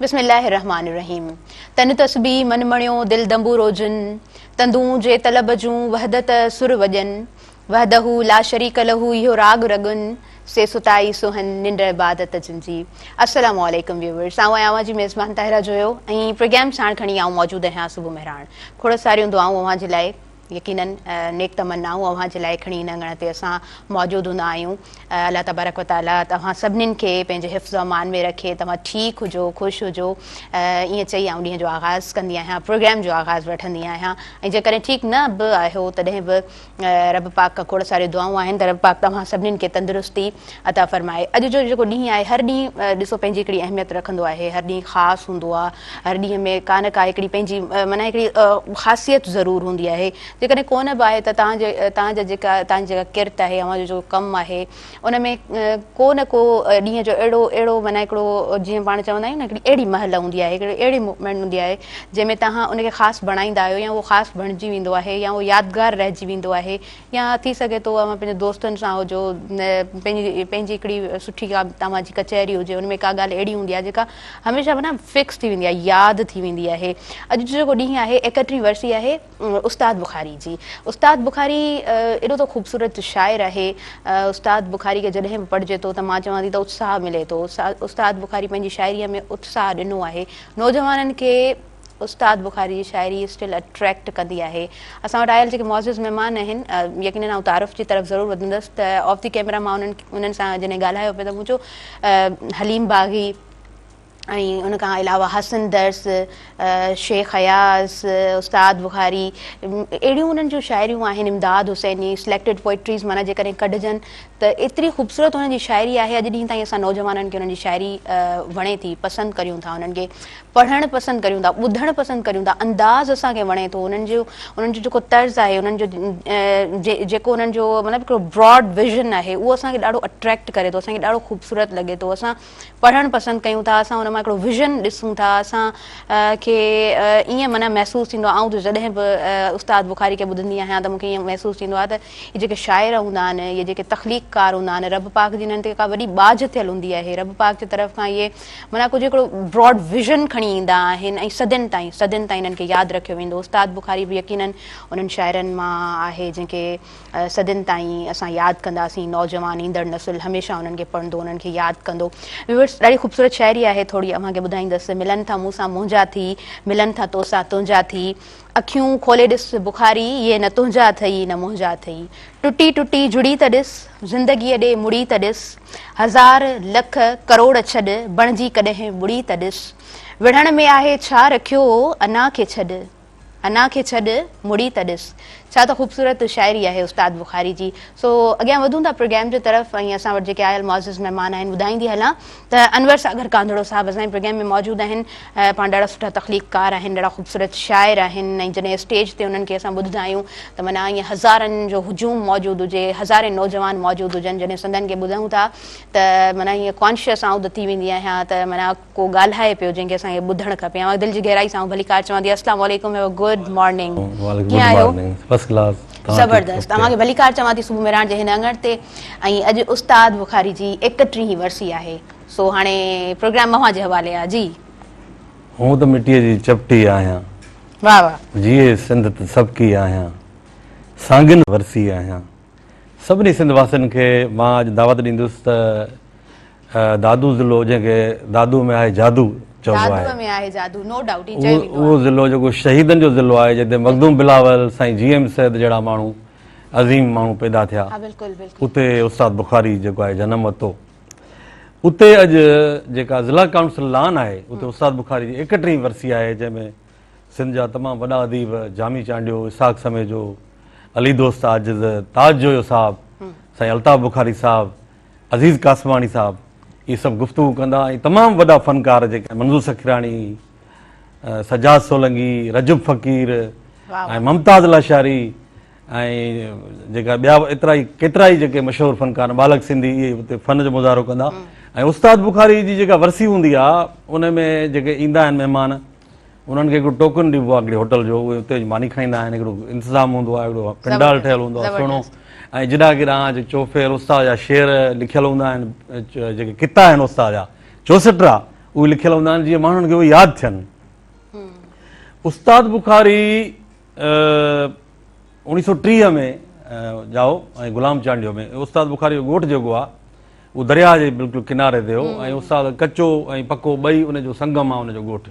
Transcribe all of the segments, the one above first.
بسم الله الرحمٰن الرحيم تن تسبيح من مڻيو دل دنبورو جن تندون جي طلب جون وحدت سر وڄن وحده لا شريڪ له اهو راڳ رڳن سي ستائي سونهن ننڊ عبادت جن جي. السلام عليڪم ويوورس آئون آهيان اوهان جي ميزبان طاهره جويو ۽ پروگرام ساڻ کڻي آئون موجود آهيان صبح مهراڻ کوڙ ساريون دعائون اوهان جي لاء يقينن نيڪ تمنائون اوهان جي لاء کڻي ان اڱڻ تي اسان موجود هوندا آهيون الله تبارڪ وتعالي توهان سڀنين کي پنهنجي حفظ و امان ۾ رکي توهان ٺيڪ هجو خوش هجو ائين چئي آئون ڏينهن جو آغاز ڪندي آهيان پروگرام جو آغاز وٺندي آهيان ۽ جيڪڏهن ٺيڪ نه به آهيو تڏهن به رب پاڪ کان کوڙ ساريون دعائون آهن ته رب پاڪ توهان سڀني کي تندرستي عطا فرمائي. اڄ جو جيڪو ڏينهن آهي هر ڏينهن ڏسو پنهنجي هڪڙي اهميت رکندو آهي هر ڏينهن خاص هوندو آهي هر ڏينهن ۾ ڪا نه ڪا هڪڙي پنهنجي معنيٰ هڪڙي خاصيت ضرور هوندي آهي جيڪڏهن ڪونه به آهي ته توهان جي توهان جا جيڪا توهان جي جيڪا ڪرت آهي اوهان جو جيڪو ڪم آهي ان ۾ ڪو نه ڪو ڏينهن جو اهڙو اهڙو معنيٰ هڪڙو جيئن پاڻ چوندا آهيون نه هڪڙي اهڙي مهل هوندي آهي هڪڙي اهڙي موومينٽ هوندي آهي جنهن ۾ تهان ان کي خاص بڻائيندا آهيو يا اهو خاص بڻجي ويندو آهي يا اهو يادگار رهجي ويندو آهي يا ٿي سگهي ٿو اوهان پنهنجي دوستن سان هجو پنهنجي پنهنجي هڪڙي سٺي ڪا توهان جي ڪچهري هجي ان ۾ ڪا ڳالهه اهڙي هوندي آهي جيڪا هميشه معنيٰ فڪس ٿي ويندي آهي ياد ٿي ويندي آهي اڄ جو جيڪو ڏينهن آهي ايڪهٽرهين ورسي آهي استاد بخاري جي استاد بخاري ايڏو ته خوبصورت شاعر آهي استاد بخاري کي جڏهن به پڙهجي ٿو ته مان چوان ٿي ته اتساهه ملي ٿو استاد بخاري پنهنجي شاعري ۾ اتساهه ڏنو آهي نوجوانن کي استاد بخاري جي شاعري اسٽل اٽريڪٽ ڪندي آهي اسان وٽ آيل جيڪي معزز مهمان آهن يقينن آئون تعارف جي طرف ضرور وڌندس ته آف دي ڪيمرا مان انهن انهن سان جڏهن ڳالهايو پي ته مون چيو حليم باغي ۽ ان کان علاوه حسن درس، شيخ اياز، استاد بخاري اهڙيون انهن جون شاعريون آهن، امداد حسيني، Selected Poetries معنيٰ جيڪڏهن ڪڍجن ته ايتري خوبصورت انهن جي شاعري آهي اڄ ڏينهن تائين اسان نوجوانن کي انهن جي شاعري وڻي ٿي پسند ڪريون ٿا انهن کي پڙهڻ پسند ڪريون ٿا ٻڌڻ پسند ڪريون ٿا انداز اسان کي وڻي ٿو انهن جو انهن جو جيڪو طرز آهي انهن جو جيڪو انهن جو مطلب هڪڙو براڊ ويزن آهي اهو اسان کي ڏاڍو اٽريڪٽ ڪري ٿو اسان کي ڏاڍو خوبصورت لڳي ٿو اسان پڙهڻ پسند ڪيون ٿا اسان ان مان هڪڙو ويزن ڏسون ٿا اسان کي ائين معنيٰ محسوس ٿيندو آهي آئون ته جڏهن به استاد بخاري کي ٻڌندي آهيان ته مون کي ائين محسوس ٿيندو آهي ته هي جيڪي شاعر هوندا آهن هي جيڪي تخليق ڪار هوندا آهن رب پاڪ جي هنن تي ڪا وڏي ٻاجهه ٿيل هوندي آهي رب پاڪ جي طرف کان اهي معنيٰ ڪجهه هڪڙو براڊ ويزن کڻي ايندا آهن ۽ صدين تائين صدين تائين هنن کي ياد رکيو ويندو استاد بخاري به يقينن انهن شاعرن مان آهي جن کي صدين تائين اسان ياد ڪنداسين نوجوان ايندڙ نسل هميشه انهن کي پڙهندو انهن کي ياد ڪندو ويورس ڏاڍي خوبصورت شاعري آهي ٿوري اوهان کي ٻڌائيندس ملن ٿا مون سان منهنجا ٿي ملن ٿا تو سان تنهنجا ٿي اکيون کولي ڏس بخاري اهي نه تنهنجا اٿئي نه منهنجا اٿئي ٽٽي ٽٽي جڙي ته ڏس زندگي ڏي مڙي ته ڏس هزار لک ڪروڙ ڇڏ بڻجي ڪڏهن ٻڙي ته ڏس وڙهڻ ۾ آهي ڇا رکيو انا کي ڇڏ انا کي ڇڏ، مڙي ته ڏس. ڇا ته خوبصورت شاعري آهي استاد بخاري جي. سو اڳيان وڌون ٿا پروگرام جي طرف ۽ اسان وٽ جيڪي آيل معزز مهمان آهن ٻڌائيندي هلان ته انور ساگر ڪانڌڙو صاحب اسان جي پروگرام ۾ موجود آهن پاڻ ڏاڍا سٺا تخليق ڪار آهن ڏاڍا خوبصورت شاعر آهن ۽ جڏهن اسٽيج تي انهن کي اسان ٻڌدا آهيون ته معنيٰ ائين هزارن جو هجوم موجود هجي هزارين نوجوان موجود هجن جڏهن سندن کي ٻڌون ٿا ته معنيٰ ائين ڪانشيس آئون ته ٿي ويندي آهيان ته معنيٰ ڪو ڳالهائي پيو جنهن کي اسان کي ٻڌڻ کپي آئون دل جي گهرائي سان ڀليڪار چوان ٿي السلام عليڪم هيو اي گڊ مارننگ ڪيئن آهيو زبردست اوهان کي ڀليڪار چوان ٿي صبح مهراڻ جي هن اڱڻ تي ۽ اڄ استاد بخاري جي ايڪٽيهين ورسي آهي سو هاڻي پروگرام اوهان جي حوالي آهي جي هون ته مٽيء جي چپٽي آهيان واهه واهه جيئي سنڌ ته سڀڪي آهيان سانگين ورسي آهيان سڀني سنڌ واسين کي مان اڄ دعوت ڏيندس ته دادو ضلعو جنهن کي دادو ۾ آهي جادو چئبو آهي. دادو ۾ آهي جادو نو ڊائوٽ هي چئي ويندو آهي. اهو ضلعو جيڪو شهيدن جو ضلعو آهي جتي مخدوم بلاول، سائين جي ايم سيد جهڙا ماڻهو عظيم ماڻهو پيدا ٿيا. ها بلڪل بلڪل. اتي استاد بخاري جيڪو آهي جنم ورتو. اتي اڄ جيڪا ضلع ڪائونسل لان آهي اتي استاد بخاري جي ايڪٽهين ورسي آهي جنهن ۾ سنڌ جا تمام وڏا اديب جامي چانڊيو، اسحاق سميجو، علي دوست عاجز، تاج جويو صاحب، سائين الطاف بخاري صاحب، عزيز قاسماڻي صاحب اهي سڀ گفتگو ڪندا ۽ تمام وڏا فنڪار جيڪي منظور سکراڻي، سجاد سولنگي، رجب فقير ۽ ممتاز لاشاري ۽ جيڪا ٻيا ايترا ئي ڪيترا ئي جيڪي مشهور فنڪار ٻالڪ سنڌي اهي اتي فن جو مظاهرو ڪندا ۽ استاد بخاري جي جيڪا ورسي هوندي آهي ان ۾ جيڪي ايندا آهن مهمان انهن کي هڪڙو ٽوڪن ڏبو آهي هڪڙي هوٽل جو اهي اتي اچي ماني کائيندا آهن هڪڙو انتظام هوندو آهي هڪڙو پنڊال ٺهيل هوندو آهي سهڻو ۽ جڏا ڪي ڏانهن جي چوڦير استاد جا شعر لکيل هوندا آهن جيڪي ڪتا آهن استاد جا چوسٽرا اهي لکيل هوندا آهن جيئن ماڻهن کي اهي ياد ٿين استاد بخاري اوڻيهه سؤ ٽيهه ۾ ڄائو ۽ غلام چانڊيو ۾ استاد بخاري جو ڳوٺ جيڪو آهي اهو درياهه جي بلڪل ڪناري تي هو ۽ استاد ڪچو ۽ پڪو ٻئي ان جو سنگم آهي ان جو ڳوٺ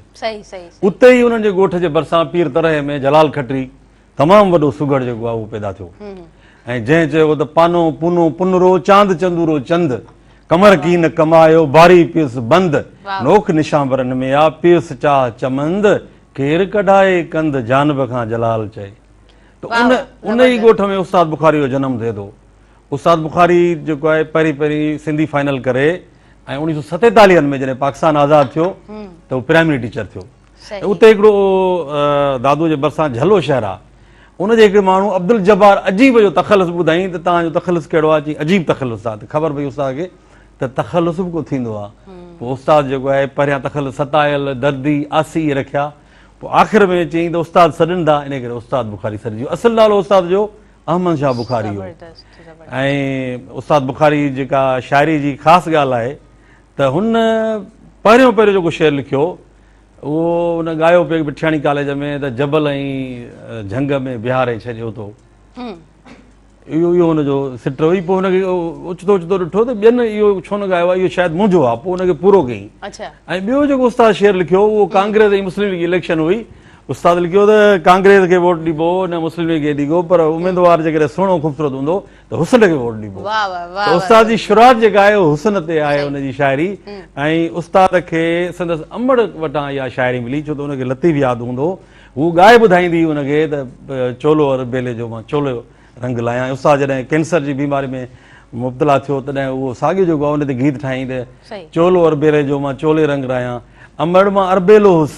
اتي ئي انهن جي ڳوٺ جي ڀرسان پير ترهي ۾ جلال کٽري تمام وڏو سگهڙ جيڪو آهي اهو پيدا ٿيو ۽ جنهن چيو ته پانو پونو پنرو چاند چندورو چند ڪمر ڪين ڪمايو باري پيس بند نوک نشانبرن ۾ آ پيس چاهه چمند ڪير ڪڍائي ڪند جانب کان جلال چئي ته ان ان ئي ڳوٺ ۾ استاد بخاري جو جنم ٿئي ٿو استاد بخاري جيڪو آهي پهرين پهرين سنڌي فائنل ڪري ۽ اڻيهه سو ستيتاليهن ۾ جڏهن پاڪستان آزاد ٿيو ته هو پرائمري ٽيچر ٿيو اتي هڪڙو دادو جي برسان جهلو شهر آهي ان جي هڪڙي ماڻهو عبدالجبار عجيب جو تخلص ٻڌائين ته تان جو تخلص کيڙو آهي چي عجيب تخلص آهي ته خبر پئي استاد کي ته تخلص به ڪو ٿيندو آهي پوء استاد جيڪو آهي پهريان تخلص ستايل دردي آسي رکيا پوء آخر ۾ چيائين ته استاد سڏن ٿا انهي ڪري استاد بخاري سڏجيو استاد نالو استاد جو احمد شاهه بخاري هو ۽ استاد بخاري جيڪا شاعري جي خاص ڳالهه آهي ته هن پهريون پهريون جيڪو شعر لکيو اهو هن ڳايو پيو مٺياڻي ڪاليج ۾ ته جبل ۽ جهنگ ۾ بهاري ڇڏيو تو اهو اهو هن جو سٽ هئي پوء هن کي اوچتو اوچتو ڏٺو ته ٻين اهو ڇو نه ڳايو آهي اهو شايد منهنجو آهي پوء هن کي پورو ڪيائين ۽ ٻيو جيڪو استاد شعر لکيو اهو ڪانگريس ۽ مسلم ليگ جي اليڪشن هئي استاد لکيو ته ڪانگريس کي ووٽ ڏبو نه مسلم ليگ کي ڏبو پر اميدوار جيڪڏهن سهڻو خوبصورت هوندو ته حسن کي ووٽ ڏبو ته استاد جي شروعات جيڪا آهي حسن تي آهي ان جي شاعري ۽ استاد کي سندس امڙ وٽان اها شاعري ملي ڇو ته ان کي لطيف ياد هوندو هوء ڳائي ٻڌائيندي هئي ان کي ته چولو ار بيلي جو مان چولو رنگ لايان. استاد جڏهن ڪينسر جي بيماري ۾ مبتلا ٿيو تڏهن اهو ساڳيو جو ڳائو ان تي گيت ٺاهيائين ته چولو ار بيلي جو مان چولي رنگ رايان امڙ مان اربيلو هوس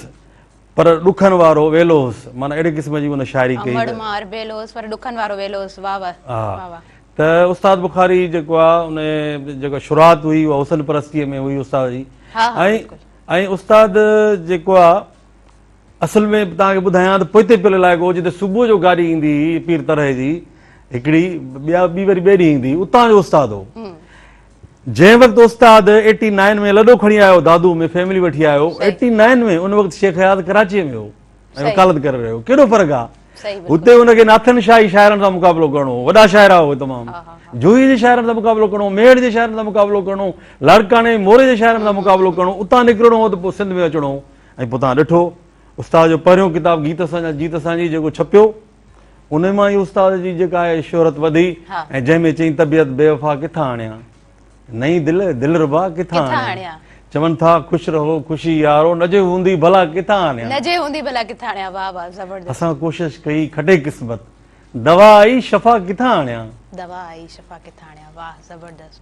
پر ڏکن وارو ويلو هوس معنيٰ اهڙي قسم جي ان شاعري ڪئي امڙ مان اربيلو هوس پر ڏکن وارو ويلو هوس واه واه واه واه. ته استاد بخاري جيڪو آ ان جيڪا شروعات هئي اها حسن پرستيء ۾ هئي استاد جي ۽ ۽ استاد جيڪو آ اصل ۾ توهان کي ٻڌايان ته پوئتي پيل علائقو جتي صبح جو گاڏي ايندي هئي پير طرح جي هڪڙي ٻيا ٻي وري ٻئي ڏينهن ايندي هئي اتان جو استاد هو جنهن وقت استاد ايٽي نائن ۾ لڏو کڻي آيو دادو ۾ فيملي وٺي آيو ايٽي نائن ۾ ان وقت شيخ حيات ڪراچي ۾ هو ۽ وڪالت ڪري رهيو کيڏو فرق آهي هتي ان کي ناٿن شاهي شاعرن سان مقابلو ڪرڻو هو وڏا شاعرا هو تمام جوهي جي شاعرن سان مقابلو ڪرڻو ميڙ جي شاعرن سان مقابلو ڪرڻو لاڙڪاڻي موري جي شاعرن سان مقابلو ڪرڻو اتان نڪرڻو هو ته پوء سنڌ ۾ اچڻو هو ۽ پوء توهان ڏٺو استاد جو پهريون ڪتاب گيت اسان جا جيت اسان جي جيڪو ڇپيو ان مان ئي استاد جي جيڪا آهي شهرت وڌي ۽ جنهن ۾ چئين طبيعت بي وفا ڪٿان آڻيا نئين دل دلربا ڪٿان آڻيا چون ٿا خوش رهو خوشي يارو نه جي هوندي ڀلا ڪٿان آڻيا نه جي هوندي ڀلا ڪٿان آڻيا واه واه زبردست اسان ڪوشش ڪئي کٽي قسمت دوا آئي شفا ڪٿان آڻيا دوا آئي شفا ڪٿان آڻيا واه زبردست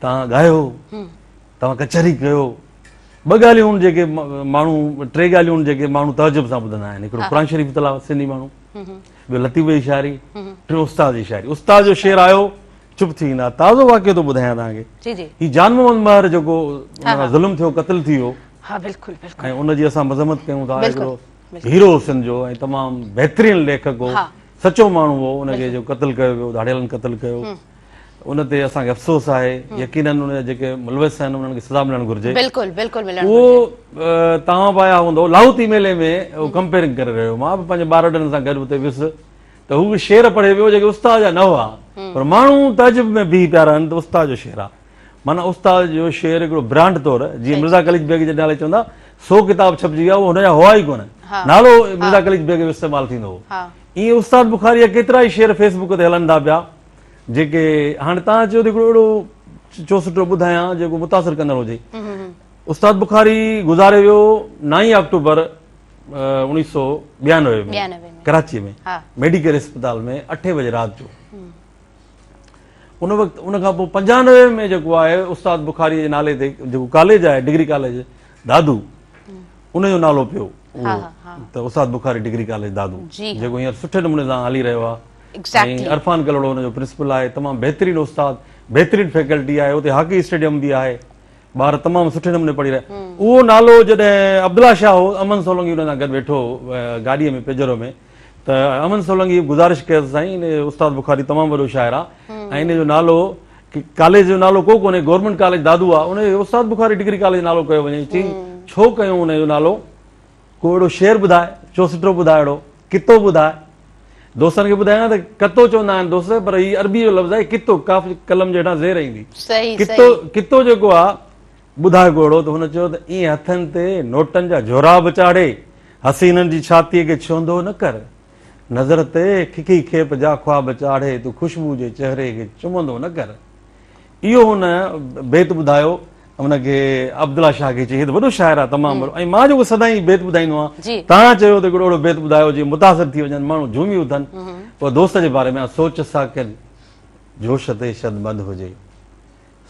توهان ڳايو، توهان ڪچهري ڪيو، ٻه ڳالهيون آهن جيڪي ماڻهو ٽي ڳالهيون آهن جيڪي ماڻهو تعجب سان ٻڌندا آهن هڪڙو قرآن شريف تلاوت سنڌي ماڻهو ٻيو لطيف جي شاعري ٽيون استاد جي شاعري استاد جو شعر آيو چپ ٿي ويندا تازو واقعو ٿو ٻڌايان توهان کي هي جان محمد مهر جيڪو ظلم ٿيو قتل ٿي ويو ها بلڪل بلڪل ۽ ان جي اسان مذمت ڪيون ٿا هڪڙو هيرو سنڌ جو ۽ تمام بهترين ليکڪ هو سچو ماڻهو هو ان کي جو قتل ڪيو ويو ڌاڙيلن قتل ڪيو ان تي اسان کي افسوس آهي يقينن ان جا جيڪي ملوث آهن انهن کي سزا ملڻ گهرجي بلڪل بلڪل ملڻ گهرجي اهو توهان به آيا هوندو لاهوت اي ميلي ۾ اهو ڪمپيرنگ ڪري رهيو مان به پنهنجي ٻار وڏن سان گڏ اتي ويس ته هو شعر پڙهي ويو جيڪي استاد جا نه هئا پر ماڻهو تعجب ۾ بيهي پيا رهن ته استاد جو شعر آهي معنی استاد جو شعر هڪڙو برانڊ طور جيئن مرزا قليچ بيگ جي نالي چوندا سو ڪتاب ڇپجي ويا هن جا هئا ئي ڪونه نالو مرزا قليچ بيگ جو استعمال ٿيندو هو ائين استاد بخاري جا ڪيترا ئي شعر فيسبوڪ تي هلن ٿا پيا جيڪي هاڻي تان چيو ته هڪڙو اهڙو چوسٽو ٻڌايان جيڪو متاثر ڪندڙ هجي استاد بخاري گذاري ويو نائين آڪٽوبر انيس سو ٻيانوي ۾ ڪراچي ۾ ميڊيڪل اسپتال ۾ اٺي بجي رات جو ان وقت ان کان پوء پنجانوي ۾ جيڪو آهي استاد بخاري جي نالي تي جيڪو ڪاليج آهي ڊگري ڪاليج دادو ان جو نالو پيو ته استاد بخاري ڊگري ڪاليج دادو جيڪو هينئر سٺي نموني سان هلي رهيو آهي ۽ عرفان ڪلهوڙو ان جو پرنسپل آهي تمام بهترين استاد بهترين فيڪلٽي آهي اتي هاڪي اسٽيڊيم به آهي ٻار تمام سٺي نموني پڙهي رهيا اهو نالو جڏهن عبدالله شاهه هو امن سولنگي ان سان گڏ ويٺو گاڏيء ۾ پيجرو ۾ ته امن سولنگي گذارش ڪيس سائين استاد بخاري تمام وڏو شاعر آهي ۽ ان جو نالو ڪاليج جو نالو ڪو ڪونهي گورنمنٽ ڪاليج دادو آهي ان استاد بخاري ڊگري ڪاليج نالو ڪيو وڃي چي ڇو ڪيو ان جو نالو ڪو اهڙو شعر ٻڌاء، چوسٽو ٻڌاء اهڙو ڪتو ٻڌاء. دوستن کي ٻڌايان ته ڪتو چوندا آهن دوست پر هي عربي جو لفظ آهي ڪتو قاف جي قلم جي هيٺان زير ايندي ڪتو ڪتو جيڪو آهي ٻڌاء ڪو اهڙو ته هن چيو ته ائين هٿن تي نوٽن جا جھورا به چاڙهي حسينن جي ڇاتيء کي ڇهندو نه ڪر نظر تي ککي کيپ جا خواب چاڙهي تون خوشبو جي چهري کي چمندو نه ڪر. اهو هن بيت ٻڌايو هن کي عبدالله شاهه کي چئي هي ته وڏو شاعر آهي تمام وڏو ۽ مان جيڪو سدائين بيت ٻڌائيندو آهيان تان چيو ته هڪڙو اهڙو بيت ٻڌايو جي متاثر ٿي وڃن ماڻهو جهومي اٿن پوء دوست جي باري ۾ سوچ ساڪن جوش تي شد مد هجي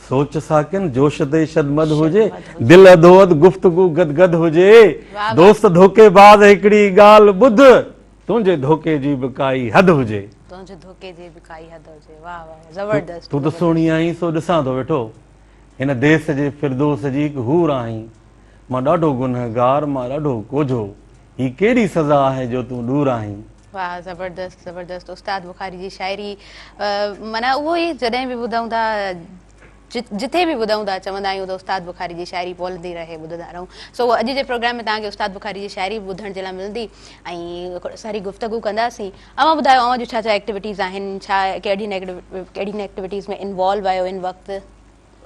سوچ ساڪن جوش تي شد مد هجي دل اڌو اڌ گفتگو گد گد هجي دوست ڌوڪي باز هڪڙي ڳالهه ٻڌ تنهنجي ڌوڪي جي به ڪائي حد هجي. تنهنجي ڌوڪي جي به ڪائي حد هجي واهه واهه زبردست. تون ته سهڻي آهين سو ڏسان ٿو ويٺو هن ديس جي فردوس جي هڪ حور آهين مان ڏاڍو گنهگار مان ڏاڍو ڪوجهو هي ڪهڙي سزا آهي جو تون ڏور آهين. واهه زبردست زبردست استاد بخاري جي شاعري معنيٰ اهو ئي جڏهن به ٻڌون ٿا. جتي به ٻڌون ٿا چوندا آهيون ته استاد بخاري جي شاعري پولندي رهي ٻڌندا رهون سو اڄ جي پروگرام ۾ توهان کي استاد بخاري جي شاعري به ٻڌڻ جي لاء ملندي ۽ ساري گفتگو ڪنداسين اوهان ٻڌايو اوهان جون ڇا ڇا ايڪٽيوٽيز آهن ڇا ڪهڙين ڪهڙين ايڪٽيوٽيز ۾ انوالو آهيو ان وقت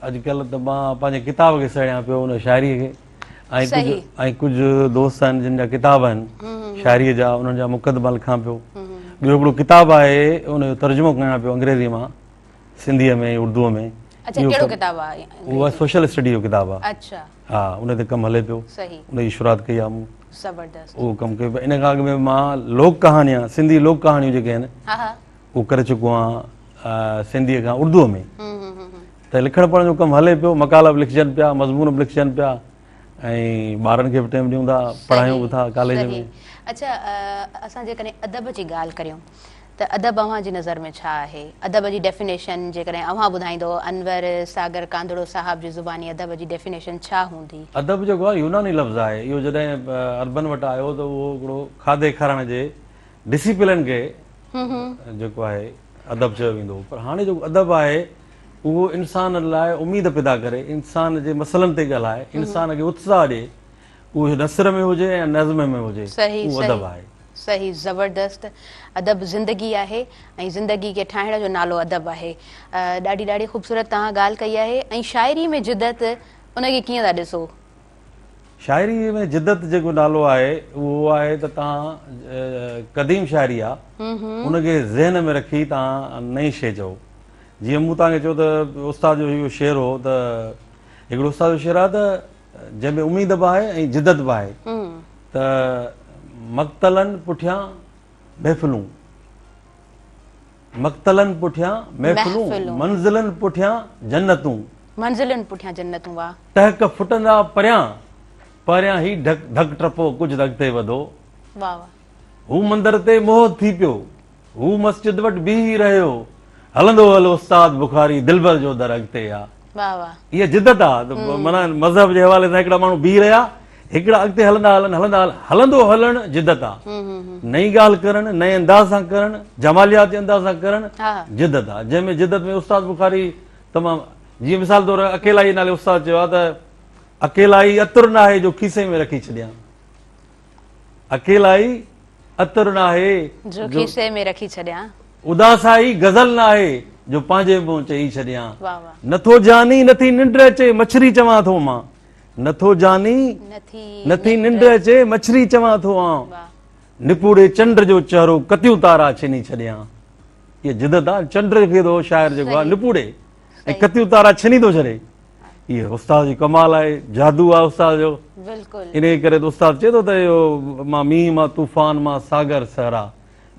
اڄڪلهه ته مان پنهنجي ڪتاب کي سهيڙيان پيو ان شاعري کي ۽ ڪجهه دوست آهن جن جا ڪتاب آهن شاعري جا انهن جا مقدما لکان پيو ٻيو هڪڙو ڪتاب آهي ان جو ترجمو ڪيان پيو انگريزي مان سنڌيء ۾ اردوء ۾ اچا ڪهڙو ڪتاب آ اهو سوشل اسٽڊي جو ڪتاب آ اچا ها ان تي ڪم هلي پيو صحيح ان جي شروعات ڪئي آ مون زبردست اهو ڪم ڪيو ان کان اڳ ۾ مان لوڪ ڪهاڻيا سنڌي لوڪ ڪهاڻيون جيڪي آهن ها ها اهو ڪري چڪو آهيان سنڌيء کان اردوء ۾ ته لکڻ پڙهڻ جو ڪم هلي پيو مقالا به لکجن پيا مضمون به لکجن پيا ۽ ٻارن کي به ٽيم ڏيون ٿا پڙهايون به ٿا ڪاليج ۾ اچا اسان جيڪڏهن ادب جي ڳالهه ڪريون ته ادب اوهان جي نظر ۾ ڇا آهي؟ ادب جي ڊيفينيشن جيڪڏهن اوهان ٻڌائيندؤ، انور ساگر ڪانڌڙو صاحب جي زباني ادب جي ڊيفينيشن ڇا هوندي؟ ادب جيڪو آهي يوناني لفظ آهي، اهو جڏهن عربن وٽ آيو ته اهو هڪڙو کاڌي کارڻ جي ڊسيپلن کي جيڪو آهي ادب چيو ويندو هو پر هاڻي جيڪو ادب آهي اهو انسان لاء اميد پيدا ڪري، انسان جي مسئلن تي ڳالهائي، انسان کي اتساهه ڏئي، اهو نثر ۾ هجي يا نظم ۾ هجي اهو ادب آهي. صحيح زبردست ادب زندگي آهي ۽ زندگي کي ٺاهڻ جو نالو ادب آهي ڏاڍي ڏاڍي خوبصورت توهان ڳالهه ڪئي آهي ۽ شاعري ۾ جدت ان کي ڪيئن ٿا ڏسو؟ شاعري ۾ جدت جيڪو نالو آهي اهو آهي ته توهان قديم شاعري آ ان کي ذهن ۾ رکي توهان نئين شي چئو جيئن مون توهان کي چيو ته استاد جو اهو شعر هو ته هڪڙو استاد جو شعر آ ته جنهن ۾ اميد به آهي ۽ جدت به آهي ته مقتلن پٺيان محفلون مقتلن پٺيان محفلون منزلن پٺيان جنتون منزلن پٺيان جنتون واهه ٽهڪ ڦٽندا پريان پريان هي ڍڪ ڍڪ ٽپو ڪجهه ته اڳتي وڌو واهه واهه هو مندر تي موهت ٿي پيو هو مسجد وٽ بيهي رهيو. هلندو هل استاد بخاري دلبر جو در اڳتي آ. واه واه. اها جدت آ ته معنيٰ مذهب جي حوالي سان هڪڙا ماڻهو بيهي رهيا هڪڙا اڳتي هلندا هلن هلندا هلن هلندو هلڻ جدت آ. نئين ڳالهه ڪرڻ نئين انداز سان ڪرڻ جمالياتي انداز سان ڪرڻ جدت آ جنهن ۾ جدت ۾ استاد بخاري تمام جيئن مثال طور اڪيلائي نالي استاد چيو آ ته اڪيلائي عطر ناهي جو کيسي ۾ رکي ڇڏيان. اڪيلائي عطر ناهي جو کيسي ۾ رکي ڇڏيان. اداسائي غزل ناهي جو پنهنجي منهن چئي ڇڏيان. نٿو جاني نٿي ننڊ اچي مڇري چوان ٿو مان. نٿو جاني نٿي ننڊ اچي مڇري چوان ٿو آن. نپوڙي چنڊ جو چهرو ڪتيون تارا ڇني ڇڏيان. هيء جدت آهي چنڊ کي ٿو شاعر جيڪو آهي نپوڙي. ۽ ڪتيون تارا ڇني ٿو ڇڏي اهي استاد جي ڪمال آهي جادو آهي استاد جو بلڪل انهي ڪري ته استاد چئي ٿو ته اهو مان مينهن مان طوفان مان ساگر صحرا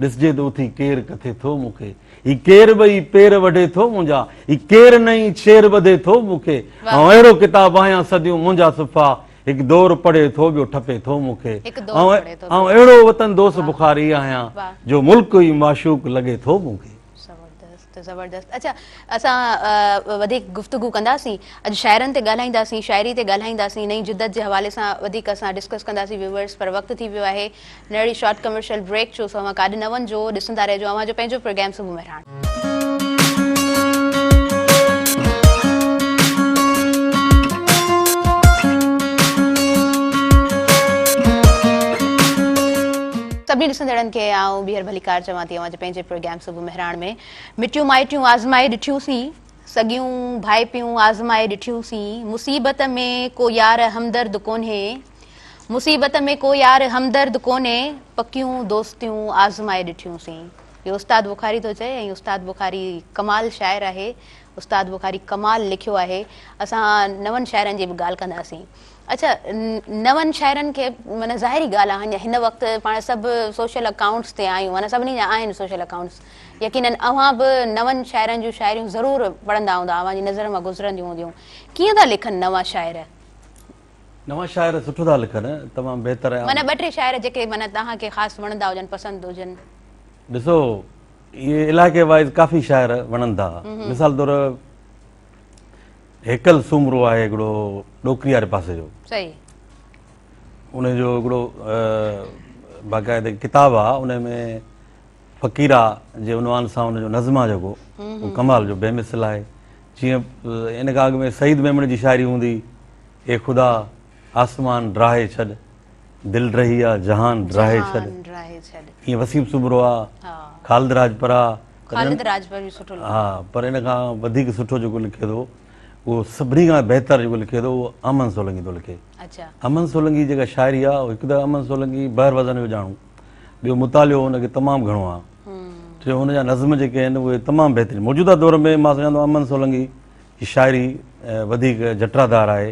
ڏسجي ته اٿي ڪير ڪٿي ٿو مون کي هي ڪير ٻئي پير وڍي ٿو منهنجا هي ڪير نئين شير ٻڌي ٿو مون کي آئون اهڙو ڪتاب آهيان صديون منهنجا صفحا هڪ دور پڙهي ٿو ٻيو ٺپي ٿو مون کي آئون اهڙو وطن دوست بخاري آهيان جو ملڪ ئي معشوق لڳي ٿو مون کي ته زبردست اچا اسان وڌيڪ گفتگو ڪنداسين اڄ شاعرن تي ڳالهائينداسين شاعري تي ڳالهائينداسين نئين جدت جي حوالي سان وڌيڪ اسان ڊسڪس ڪنداسين ويورز پر وقت ٿي ويو آهي نڙي شارٽ ڪمرشل بريڪ جو سو اوهان ڪاڏ نه وڃجو ڏسندا رهجو اوهان جو پنهنجو پروگرام صبح مهراڻ سڀني ڏسندڙن کي آئون ٻيهر ڀليڪار چوان ٿي اوهان جو پنهنجي پروگرام صبح بهراڻ ۾، مٽيون مائٽيون آزمائي ڏٺيون سين، سڳيون ڀائپيون آزمائي ڏٺيون سين، مصيبت ۾ ڪو يار همدرد ڪونهي، مصيبت ۾ ڪو يار همدرد ڪونهي، پڪيون دوستيون آزمائي ڏٺيون سين. اهو استاد بخاري ٿو چئي ۽ استاد بخاري ڪمال شاعر آهي، استاد بخاري ڪمال لکيو آهي، اسان نون شاعرن جي به ڳالهه ڪنداسين. اچا نون شاعرن کي معنيٰ ظاهري ڳالهه آهن جا هن وقت پاڻ سڀ سوشل اڪائونٽس تي آهيون معنيٰ سڀني جا آهن سوشل اڪائونٽس يقيناً اوهان به نون شاعرن جون شاعريون ضرور پڙهندا هوندا اوهان جي نظر مان گذرنديون هونديون ڪيئن ٿا لکن نوان شاعر؟ نوان شاعر سٺو ٿا لکن تمام بهتر ۽ معنيٰ ٻه ٽي شاعر جيڪي معنيٰ توهان کي خاص وڻندا هجن پسند هجن؟ ڏسو اهي علائقي وائز ڪافي شاعر وڻن ٿا مثال طور هيڪل سومرو آهي هڪڙو ڏوڪري واري پاسي جو. صحيح. ان جو هڪڙو باقاعده ڪتاب آ ان ۾ فقيرا جي عنوان سان ان جو نظم آ جيڪو هو ڪمال جو بي مثل آهي جيئن ان کان اڳ ۾ سعيد ميمڻ جي شاعري هوندي اي خدا آسمان ڊاهي ڇڏ، دل ڊهي آ، جهان ڊاهي ڇڏ. جهان ڊاهي ڇڏ. ائين وسيم سومرو آ، ها. خالد راڄپر آ. خالد راڄپر به سٺو لکندو آ. ها پر ان کان وڌيڪ سٺو جيڪو لکي ٿو اهو سڀني کان بهتر جيڪو لکي ٿو اهو احمد سولنگي ٿو لکي. اڇا. احمد سولنگي جيڪا شاعري آ هڪ ته احمد سولنگي بحر وزن جو ڄاڻو، ٻيو مطالعو ان کي تمام گهڻو آ. ٽيون هن جا نظم جيڪي آهن اهي تمام بهترين. موجوده دور ۾ مان سمجهان ٿو احمد سولنگي جي شاعري وڌيڪ جٽرادار آهي.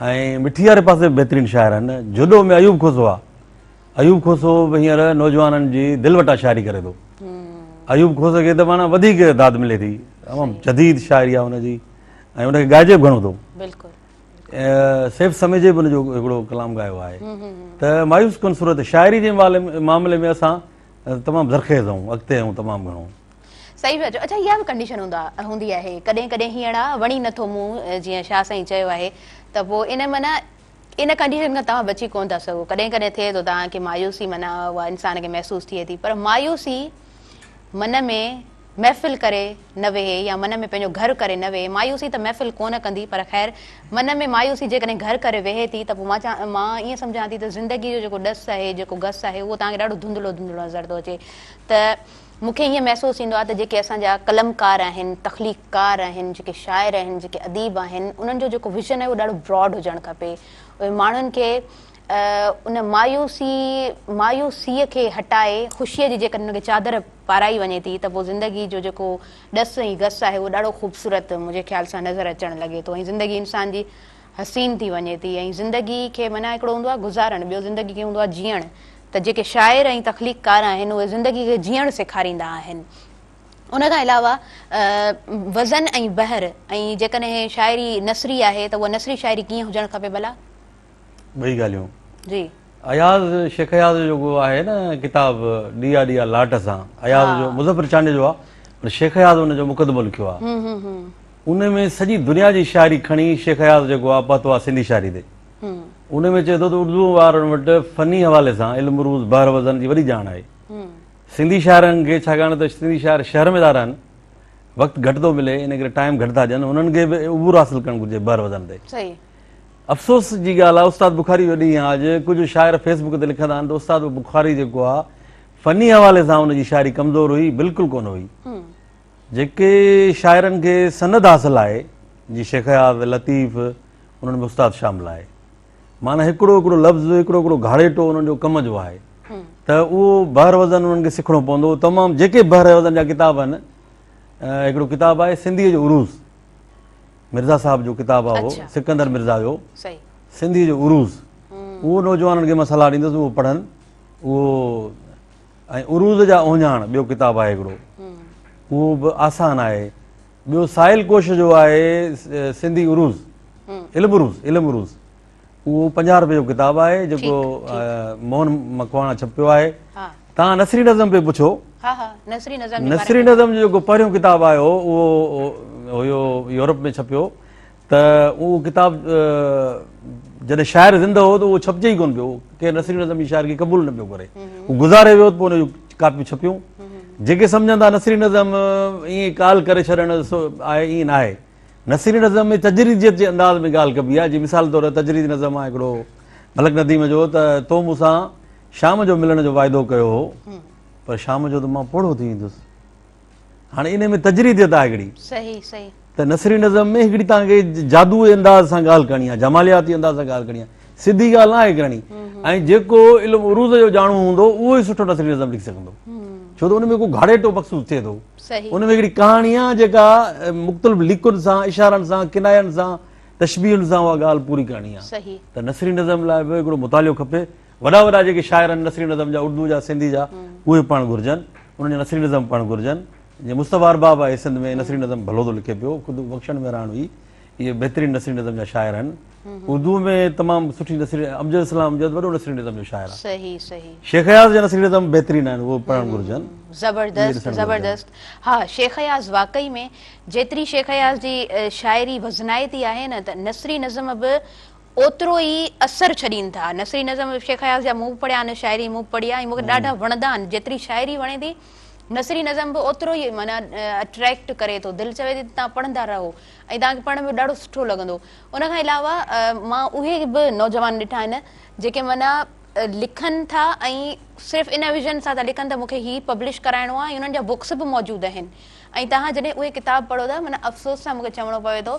۽ مٺي واري پاسي به بهترين شاعر آهن. جهڏو ۾ ايوب کوسو آ. ايوب کوسو به هينئر نوجوانن جي دل وٽان شاعري ڪري ٿو. ايوب کوسي کي ته پاڻ وڌيڪ داد ملي ٿي. تمام جديد شاعري آ ان جي ۽ ان کي ڳائجي به گهڻو ٿو. سيف سميجي به ان جو هڪڙو ڪلام ڳايو آهي. ته مايوس ڪن صورت شاعري جي معاملي ۾ اسان تمام زرخيز آهيون، اڳتي آهيون تمام گهڻو. صحيح پيا چئو اڇا اها به ڪنڊيشن هوندا هوندي آهي ڪڏهن ڪڏهن هيئڻ آ وڻي نٿو مون جيئن شاهه سائين چيو آهي ته پو ان معنيٰ ان ڪنڊيشن کان توهان بچي ڪونه ٿا سگهو ڪڏهن ڪڏهن ٿئي ٿو توهان کي مايوسي معنيٰ اها انسان کي محسوس ٿئي ٿي پر مايوسي من ۾ محفل ڪري نه ويهي يا من ۾ پنهنجو گهر ڪري نه ويهي مايوسي ته محفل ڪونه ڪندي پر خير من ۾ مايوسي جيڪڏهن گهر ڪري ويهي ٿي ته پو مان چا مان ائين سمجهان ٿي ته زندگي جو جيڪو ڏس آهي جيڪو گس آهي اهو توهان کي ڏاڍو ڌنڌلو ڌنڌلو نظر ٿو اچي ته مون کي ائين محسوس ٿيندو آهي ته جيڪي اسان جا قلمڪار آهن، تخليق ڪار آهن، جيڪي شاعر آهن، جيڪي اديب آهن، انهن جو جيڪو ويزن آهي اهو ڏاڍو براڊ هجڻ کپي. اهي ماڻهن کي ان مايوسي مايوسيء کي هٽائي خوشيء جي جيڪڏهن انهن کي چادر پارائي وڃي ٿي ته پوء زندگي جو جيڪو ڏس ۽ گس آهي اهو ڏاڍو خوبصورت منهنجي خيال سان نظر اچڻ لڳي ٿو ۽ زندگي انسان جي حسين ٿي وڃي ٿي ۽ زندگي کي معنيٰ هڪڙو هوندو آهي گذارڻ ٻيو زندگي کي هوندو آهي جيئڻ ته جيڪي شاعر ۽ تخليقڪار آهن اهي زندگي کي جيئڻ سيکاريندا آهن ان کان علاوه وزن ۽ بحر ۽ جيڪڏهن شاعري نثري آهي ته اها نثري شاعري ڪيئن هجڻ کپي ڀلا؟ ٻئي ڳالهيون جي اياز شيخ اياز جو ڪو آهي نه ڪتاب ڏيئا ڏيئا لاٽ سان اياز جو مظفر چانڊيو جو آهي پر شيخ اياز ان جو مقدمو لکيو آهي ان ۾ سڄي دنيا جي شاعري کڻي شيخ اياز جيڪو آ پهتو آ سنڌي شاعري تي ان ۾ چئي ٿو ته اردوء وارن وٽ فني حوالي سان علم عروض بحر وزن جي وڏي ڄاڻ آهي سنڌي شاعرن کي ڇاڪاڻ ته سنڌي شاعر شهر ۾ ٿا رهن وقت گهٽ ٿو ملي ان ڪري ٽائيم گهٽ ٿا ڏين انهن کي به عبور حاصل ڪرڻ گهرجي بحر وزن تي افسوس جي ڳالهه آ استاد بخاري جو ڏينهن آ اڄ ڪجهه شاعر فيس بڪ تي لکندا آهن ته استاد بخاري جيڪو آ فني حوالي سان ان جي شاعري ڪمزور هئي بلڪل ڪونه هئي جيڪي شاعرن کي سند حاصل آهي جي شيخ اياز، لطيف، انهن ۾ استاد شامل آهي. معنيٰ هڪڙو هڪڙو لفظ، هڪڙو هڪڙو گهاڙيٽو انهن جو ڪم جو آهي ته اهو بحر وزن انهن کي سکڻو پوندو. تمام جيڪي بحر وزن جا ڪتاب آهن، هڪڙو ڪتاب آهي سنڌيء جو عروض، مرزا صاحب جو ڪتاب آهي اهو، سڪندر مرزا جو سنڌيء جو عروض. اهو نوجوانن کي مان صلاح ڏيندس اهو پڙهن، اهو. ۽ عروض جا اوهڃاڻ ٻيو ڪتاب آهي هڪڙو اهو به آسان آهي ٻيو سائل ڪوش جو آهي سنڌي عروض علم عروض علم عروض اهو پنجاهه روپيه جو ڪتاب آهي جيڪو موهن مکواڻا ڇپيو آهي تان نثري نظم پي پڇو نثري نظم جو جيڪو پهريون ڪتاب آيو اهو هيو يورپ ۾ ڇپيو ته اهو ڪتاب جڏهن شاعر زندهه هو ته اهو ڇپجي ئي ڪونه پيو ڪير نصير نظم جي شاعر کي قبول نه پيو ڪري هو گذاري ويو ته پوء ان جون ڪاپيون ڇپيون جيڪي سمجهن ٿا نصير نظم ائين ڪال ڪري ڇڏڻ آهي ائين نه آهي نصير نظم ۾ تجريديت جي انداز ۾ ڳالهه ڪبي آهي جيئن مثال طور تجريدي نظم آهي هڪڙو ملڪ نديم جو ته تو مون سان شام جو ملڻ جو واعدو ڪيو هو پر شام جو ته مان پوڙهو ٿي ويندس هاڻي انهي ۾ تجريديت آهي هڪڙي. صحيح صحيح. ته نثري نظم ۾ هڪڙي توهان کي جادوئي انداز سان ڳالهه ڪرڻي آهي جمالياتي انداز سان ڳالهه ڪرڻي آهي سڌي ڳالهه ناهي ڪرڻي ۽ جيڪو علم عروض جو ڄاڻو هوندو اهو ئي سٺو نثري نظم لکي سگهندو ڇو ته ان ۾ ڪو گهاڙيٽو مخصوص ٿئي ٿو صحيح. ان ۾ هڪڙي ڪهاڻي آهي جيڪا مختلف ليڪن سان اشارن سان ڪناين سان تشبيهن سان اها ڳالهه پوري ڪرڻي آهي صحيح. ته نثري نظم لاء به هڪڙو مطالعو کپي وڏا وڏا جيڪي شاعر آهن نثري نظم جا اردو جا سنڌي جا اهي پڙهڻ گهرجن انهن جا نثري نظم پڙهڻ گهرجن جيئن مصطفيٰ ارباب آهي سنڌ ۾ نثري نظم ڀلو ٿو لکي پيو خود بخشڻ مهراڻ هئي اهي بهترين نثري نظم جا شاعر آهن اردو ۾ تمام سٺي نثري امجد اسلام امجد وڏو نثري نظم جو شاعر آهي صحيح صحيح شيخ اياز جا نثري نظم بهترين آهن اهي پڙهڻ گهرجن زبردست زبردست ها شيخ اياز واقعي ۾ جيتري شيخ اياز جي شاعري وزنائتي آهي نه ته نثري نظم به اوترو ئي اثر ڇڏين ٿا. نثري نظم شيخ اياز جا مون به پڙهيا آهن، شاعري مون به پڙهي آهي ۽ مون کي ڏاڍا وڻندا آهن. جيتري شاعري وڻي ٿي، نثري نظم به اوترو ئي معنيٰ اٽريڪٽ ڪري ٿو. دل چوي ٿي ته تهان پڙهندا رهو ۽ تهان کي پڙهڻ ۾ به ڏاڍو سٺو لڳندو. ان کان علاوه مان اهي به نوجوان ڏٺا آهن جيڪي معنيٰ لکن ٿا ۽ صرف ان ويزن سان ٿا لکن ته مون کي هي پبلش ڪرائڻو آهي ۽ انهن جا بڪس به موجود آهن ۽ تهان جڏهن اهي ڪتاب پڙهو ٿا معنيٰ افسوس سان مون کي چوڻو پوي ٿو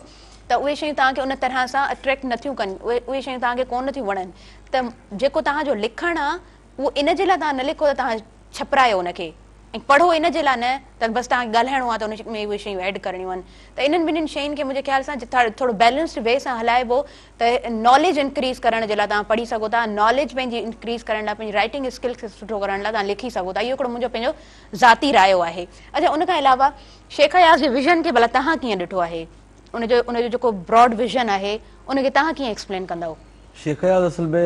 ته اهي شيون توهان کي ان طرح سان اٽريڪٽ نه ٿيون ڪن، اهي شيون توهان کي ڪونه ٿيون وڻن ته جيڪو توهان جو لکڻ آ اهو ان جي لاء توهان نه لکو ته توهان ڇپرايو ان کي ۽ پڙهو ان جي لاء نه ته بس توهان کي ڳالهائڻو آ ته ان ۾ اهي شيون ايڊ ڪرڻيون آهن ته انهن ٻنهين شين کي منهنجي خيال سان ٿورو بيلنسڊ وي سان هلائبو ته ناليج انڪريز ڪرڻ جي لاء توهان پڙهي سگهو ٿا ناليج پنهنجي انڪريز ڪرڻ لاء پنهنجي رائٽنگ اسڪلس کي سٺو ڪرڻ لاء توهان لکي سگهو ٿا اهو هڪڙو منهنجو پنهنجو ذاتي رايو آهي اڇا ان کان علاوه شيخ اياز جي ويزن کي ڀلا توهان ڪيئن ڏٺو آهي؟ ان جو ان جو جيڪو براڊ ويزن آهي ان کي توهان ڪيئن ايڪسپلين ڪندؤ؟ شيخ اياز اصل ۾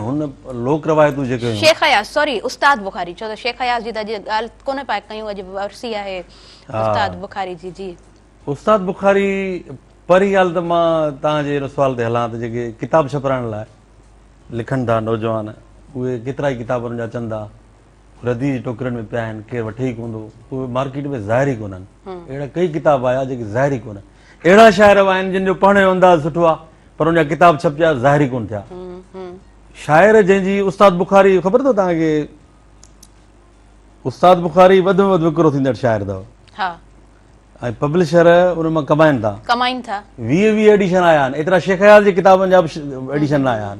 هن لوڪ روايتون جيڪي هيون. شيخ اياز سوري استاد بخاري ڇو ته شيخ اياز جي ته اڄ ڳالهه ڪونه پيا ڪيون اڄ ورسي آهي استاد بخاري جي جي. استاد بخاري پهرين ڳالهه ته مان توهان جي ان سوال تي هلان ته جيڪي ڪتاب ڇپرائڻ لاء لکن ٿا نوجوان اهي ڪيترائي ڪتاب انهن جا اچن ٿا. رديء جي ٽوڪرين ۾ پيا آهن، ڪير وٺي ئي ڪوندو، اهي مارڪيٽ ۾ ظاهر ئي ڪونهن. اهڙا ڪيئي ڪتاب آيا، جيڪي ظاهر ئي ڪونهن. اهڙا شاعر به آهن، جن جو پڙهڻ جو انداز سٺو آهي، پر ان جا ڪتاب ڇپجيا، ظاهر ئي ڪونه ٿيا. شاعر جنهن جي استاد بخاري، خبر اٿو توهان کي؟ استاد بخاري وڌ ۾ وڌ وڪرو ٿيندڙ شاعر اٿو. ۽ پبلشر ان مان ڪمائين ٿا. ڪمائين ٿا. ويهه ويهه ايڊيشن آيا آهن. ايترا شيخ اياز جي ڪتابن جا به ايڊيشن نه آيا آهن.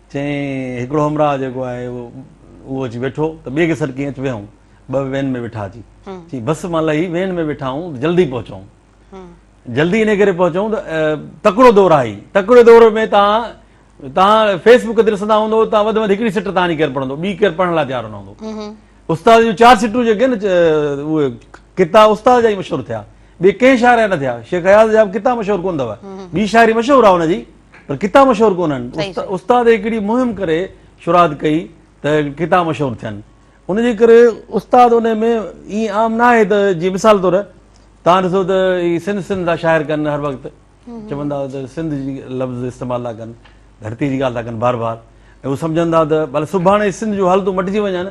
چيائين، هڪڙو همراهه جيڪو آهي اهو اچي ويٺو ته ٻئي کي سڏ ڪيائين اچ ويهون ٻه وين ۾ ويٺا اچي. چيائين، بس مان لهي وين ۾ ويٺا آهون ته جلدي پهچون. جلدي انهي ڪري پهچون ته تڪڙو دور آهي. تڪڙي دور ۾ توهان توهان فيس بڪ تي ڏسندا هوندؤ ته وڌ ۾ وڌ هڪڙي سٽ توهان جي ڪير پڙهندو، ٻي ڪير پڙهڻ لاء تيار نه هوندو. استاد جون چار سٽون جيڪي آهن نه اهي ڪتا استاد جا ئي مشهور ٿيا، ٻئي ڪنهن شاعر جا نه ٿيا. شيخ اياز جا به ڪتا مشهور ڪونه اٿو. ٻي شاعري مشهور آهي ان جي. پر ڪتا مشهور ڪونهن استاد هڪڙي مهم ڪري شرات ڪئي ته ڪتا مشهور ٿين ان جي ڪري استاد ان ۾ اي عام نه آهي ته جي مثال طور تان ڏسو ته هي سنڌ سنڌ دا شاعر ڪن هر وقت چوندا ته سنڌ جي لفظ استعمال لا ڪن ڌرتي جي ڳالهه لا ڪن بار بار ۽ هو سمجهندا ته بل سڀاڻي سنڌ جو حالتون مٽجي وڃن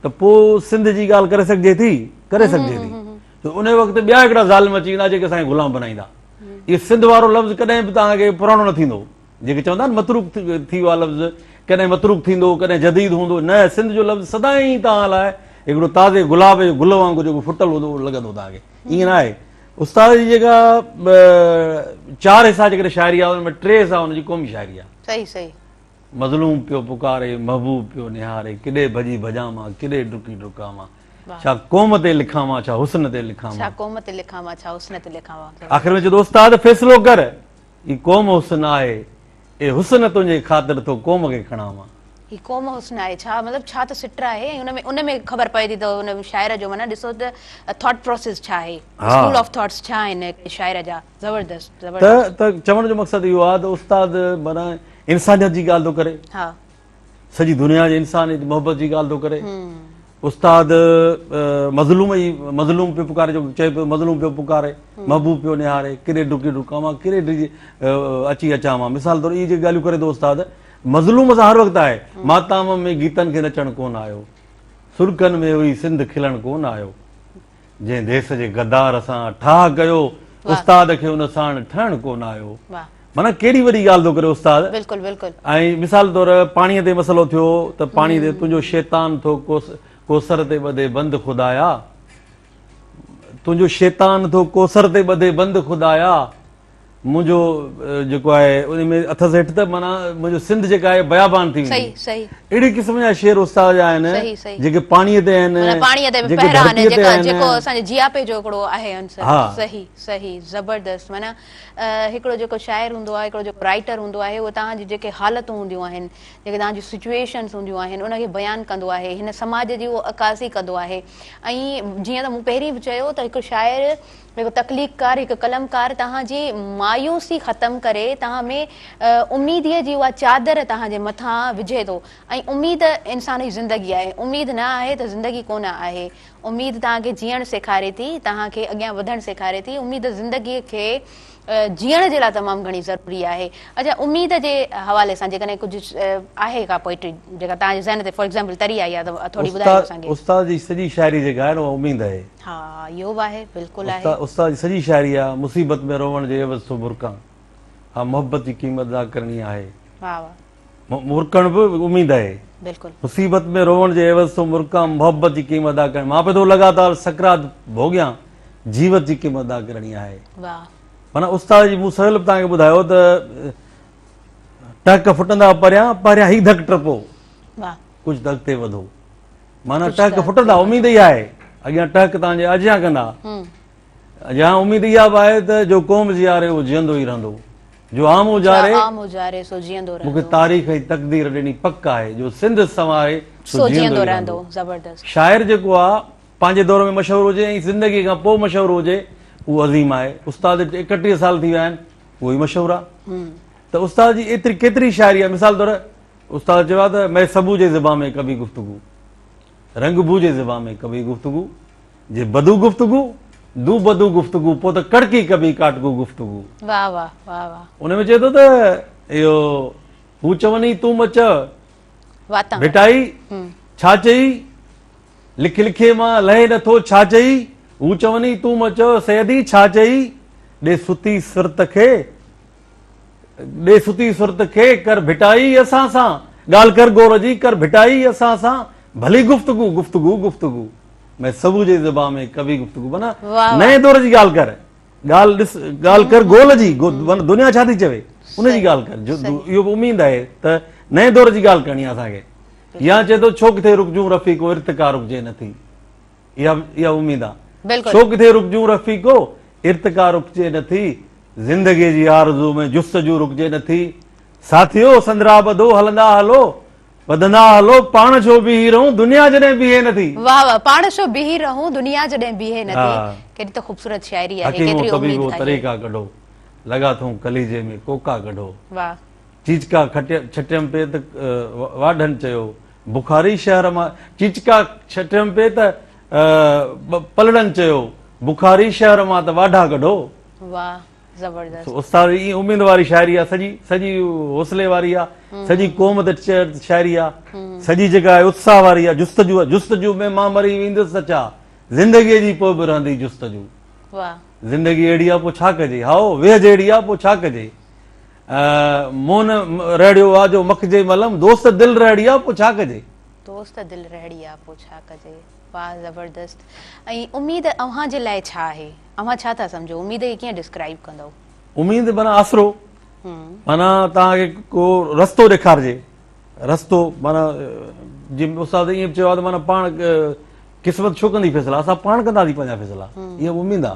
ته پو سنڌ جي ڳالهه ڪري سگهجي ٿي ڪري سگهجي ٿي ته انهيء وقت ٻيا هڪڙا ظالم اچي ويندا جيڪي اسان کي غلام بنائيندا. هي سنڌ وارو لفظ ڪڏهن به توهان کي پراڻو نه ٿيندو. جيڪي چون ٿا نه متروڪ ٿي ويو آهي لفظ، ڪڏهن متروڪ ٿيندو، ڪڏهن جديد هوندو، نه سنڌ جو لفظ سدائين توهان لاء هڪڙو تازي گلاب جي گل وانگر جيڪو ڦٽل هوندو لڳندو توهان کي. ائين نه آهي. استاد جي جيڪا چار حصا جيڪڏهن شاعري آهي ان ۾ ٽي حصا ان جي قومي شاعري آهي. صحيح صحيح. مظلوم پيو پڪاري، محبوب پيو نهاري، ڪيڏي ڀڄي ڀڄان مان، ڪيڏي ڊڪي ڊڪان مان. ڇا قوم تي لکاوان ڇا حسن تي لکاوان ڇا قوم تي لکاوان ڇا حسن تي لکاوان آخر ۾ چيو استاد فيصلو ڪر هي قوم حسن آهي اي حسن تنهنجي خاطر ٿو قوم کي کڻاوان هي قوم حسن آهي ڇا مطلب ڇا ته سٽ آهي ۽ ان ۾ ان ۾ خبر پئي ٿي ته ان شاعر جو معنيٰ ڏسو ته ٿاٽ پروسيس ڇا آهي اسڪول آف ٿاٽس ڇا آهن شاعر جا زبردست زبردست ته چوڻ جو مقصد اهو آهي ته استاد معنيٰ انسانيت جي ڳالهه ٿو ڪري ها سڄي دنيا جي انسانيت جي محبت جي ڳالهه ٿو ڪري استاد مظلوم ئي مظلوم پيو پڪاري جو چئي پيو مظلوم پيو پڪاري محبوب پيو نهاري ڪيڏي ڊڪي ڊڪان مان ڪيڏي ڊڄي اچي اچان مان مثال طور اهي جي ڳالهيون ڪري ٿو استاد مظلوم سان هر وقت آهي ماتام ۾ گيتن کي نچڻ ڪون آيو سرڪن ۾ هئي سنڌ کلڻ ڪون آيو جنهن ديس جي غدار سان ٺاهه ڪيو استاد کي ان ساڻ ٺهڻ ڪونه آيو معنيٰ ڪهڙي وڏي ڳالهه ٿو ڪري استاد ۽ مثال طور پاڻي تي مسئلو ٿيو ته پاڻي تي تنهنجو شيطان ٿو ڪوسر تي ٻڌي بند خدايا تنهنجو شيطان ٿو ڪوسر تي ٻڌي بند خدايا منهنجو جيڪو آهي ان ۾ اٿس هيٺ ته معنيٰ منهنجو سنڌ جيڪا آهي بيابان ٿي ويندي اهڙي قسم جا شعر استاد جا آهن جيڪي پاڻيء تي آهن جيڪي ڌرتيء تي آهن جيڪو اسان جي جياپي جو هڪڙو آهي عنصر صحيح صحيح زبردست معنيٰ هڪڙو جيڪو شاعر هوندو آهي هڪڙو جيڪو رائيٽر هوندو آهي اهو توهان جي جيڪي حالتون هونديون آهن جيڪي توهان جون سچوئيشنز هونديون آهن ان کي بيان ڪندو آهي هن سماج جي اهو عڪاسي ڪندو آهي ۽ جيئن ته مون پهرين به چيو ته هڪ شاعر هڪ تخليقڪار، هڪ قلمڪار توهان جي مايوسي ختم ڪري توهان ۾ اميديء جي اها چادر توهان جي مٿان وجهي ٿو ۽ اميد انسان جي زندگي آهي، اميد نه آهي ته زندگي ڪونه آهي، اميد توهان کي جيئڻ سيکاري ٿي، توهان کي اڳيان وڌڻ سيکاري ٿي، اميد زندگيء کي جيئڻ جي لاء تمام گهڻي ضروري آهي. اچا اميد جي حوالي سان جيڪڏهن ڪجهه آهي ڪا پوئٽري جيڪا توهان جي ذهن تي فار ايگزامپل تري آئي آهي ته ٿوري ٻڌايو اسان کي. استاد جي سڄي شاعري جيڪا آهي نه اها اميد آهي. ها اهو به آهي بلڪل آهي. استاد جي سڄي شاعري آهي مصيبت ۾ روئڻ جي عيوض سو برقعان ها محبت جي قيمت ادا ڪرڻي آهي. واهه واهه. مرڪڻ به اميد آهي. مصيبت ۾ روئڻ جي عيوض تون مرڪان محبت جي قيمت ادا ڪرڻ مان پئي ٿو لڳاتار سڪرات ڀوڳيان جيوت جي قيمت ادا ڪرڻي آهي معنيٰ استاد جي مون سهيل به تهانکي ٻڌايو ته ٽهڪ ڦٽندا پريان پهريان هي ڌڪ ٽپو ڪجهه ته اڳتي وڌو معنيٰ ٽهڪ ڦٽندا اميد ئي آهي اڳيان ٽهڪ تهانجي اجيان ڪندا جا اميد اها به آهي ته جو قوم جياري اهو جيئندو ئي رهندو جو عام اجاري سو جيئندو رهندو مونکي تاريخ ۽ تقدير ڏني پڪ آهي جو سنڌ سنواري سو جيئندو ئي رهندو زبردست شاعر جيڪو آ پنهنجي دور ۾ مشهور هجي ۽ زندگي کان پوء مشهور هجي اهو عظيم آهي استاد اڪٽيهه سال ٿي ويا آهن اهو ئي مشهور آ ته استاد جي ايتري ڪيتري شاعري آ مثال طور استاد چيو آ ته مي سبو جي زبان ۾ ڪبي گفتگو رنگ بو جي زبان ۾ ڪبي گفتگو، جي بدو گفتگو، دو بدو گفتگو، پوء ته ڪڙڪي ڪبي ڪاٽگو گفتگو. واھ واھ واھ واھ. ان ۾ چئي ٿو ته اهو هو چوني تون مه چئه واتان ڀٽائي ڇا چئي لک لکي مان لهي نه ٿو ڇا چئي هو چوني تون مه چئه سيدي ڇا چئي ڏي ستي سرت کي ڏي ستي سرت کي، ڪر ڀٽائي اسان سان، ڳالهه ڪر گور جي، ڪر ڀٽائي اسان سان، ڀلي گفتگو، گفتگو، گفتگو، مين سبو جي زبان ۾ ڪبي گفتگو، معنيٰ نئين دور جي ڳالهه ڪر، ڳالهه ڏس، ڳالهه ڪر گول جي، دنيا ڇا ٿي چوي، ان جي ڳالهه ڪر، اهو به اميد آهي ته نئين دور جي ڳالهه ڪرڻي آهي اسان کي. يا چئي ٿو ڇو ڪٿي رڪجون رفيق ارتقا رڪجي نٿي. اها اها اميد آ. بلڪل. شوق ٿي رڪجون رفيقو، ارتقا رڪجي نه ٿي، زندگيء جي آرزو ۾ جستجو رڪجي نه ٿي. ساٿيو، سندرا ٻڌو، هلندا هلو، وڌندا هلو، پاڻ ڇو بيهي رهون، دنيا جڏهن بيهي نه ٿي. واهه واهه، پاڻ ڇو بيهي رهون، دنيا جڏهن بيهي نه ٿي. ها. ڪيڏي ته خوبصورت شاعري آهي، حڪيمو ڪيتري اميد طبيبو، آهي. طريقا ڪڍو، لڳا ٿئون ڪليجي ۾ ڪوڪا ڪڍو. واهه. چيچڪا کٽيم ڇٽيم پئي ته واڍن چيو، بخاري شهر مان چيچڪا ڇٽيم پئي ته پلڙن چيو، بخاري شهر مان ته واڍا ڪڍو. واه زبردست. استاد اي اميد واري شاعري آ سڄي سڄي حوصلي واري آ سڄي قوم تي شاعري آ سڄي جيڪا آهي اتساهه واري آ جستجو آ جستجو ۾ مان مري ويندس ته ڇا زندگي جي پوء به رهندي جستجو واه زندگي اهڙي آ پوء ڇا ڪجي هائو ويهه جهڙي آ پوء ڇا ڪجي. مون رهڙيو آ جو مکجي ملم دوست دل رهڙي آ پو ڇا ڪجي. دوست دل رهڙي آ پو ڇا ڪجي. واه زبردست ۽ اميد اوهان جي لاء ڇا آهي اوهان ڇا ٿا سمجهو اميد کي ڪيئن ڊسڪرائيب ڪندؤ. اميد معنيٰ آسرو معنيٰ توهان کي ڪو رستو ڏيکارجي رستو معنيٰ جي استاد ائين به چيو آهي ته معنيٰ پاڻ قسمت ڇو ڪندي فيصلا اسان پاڻ ڪنداسين پنهنجا فيصلا اها اميد آ.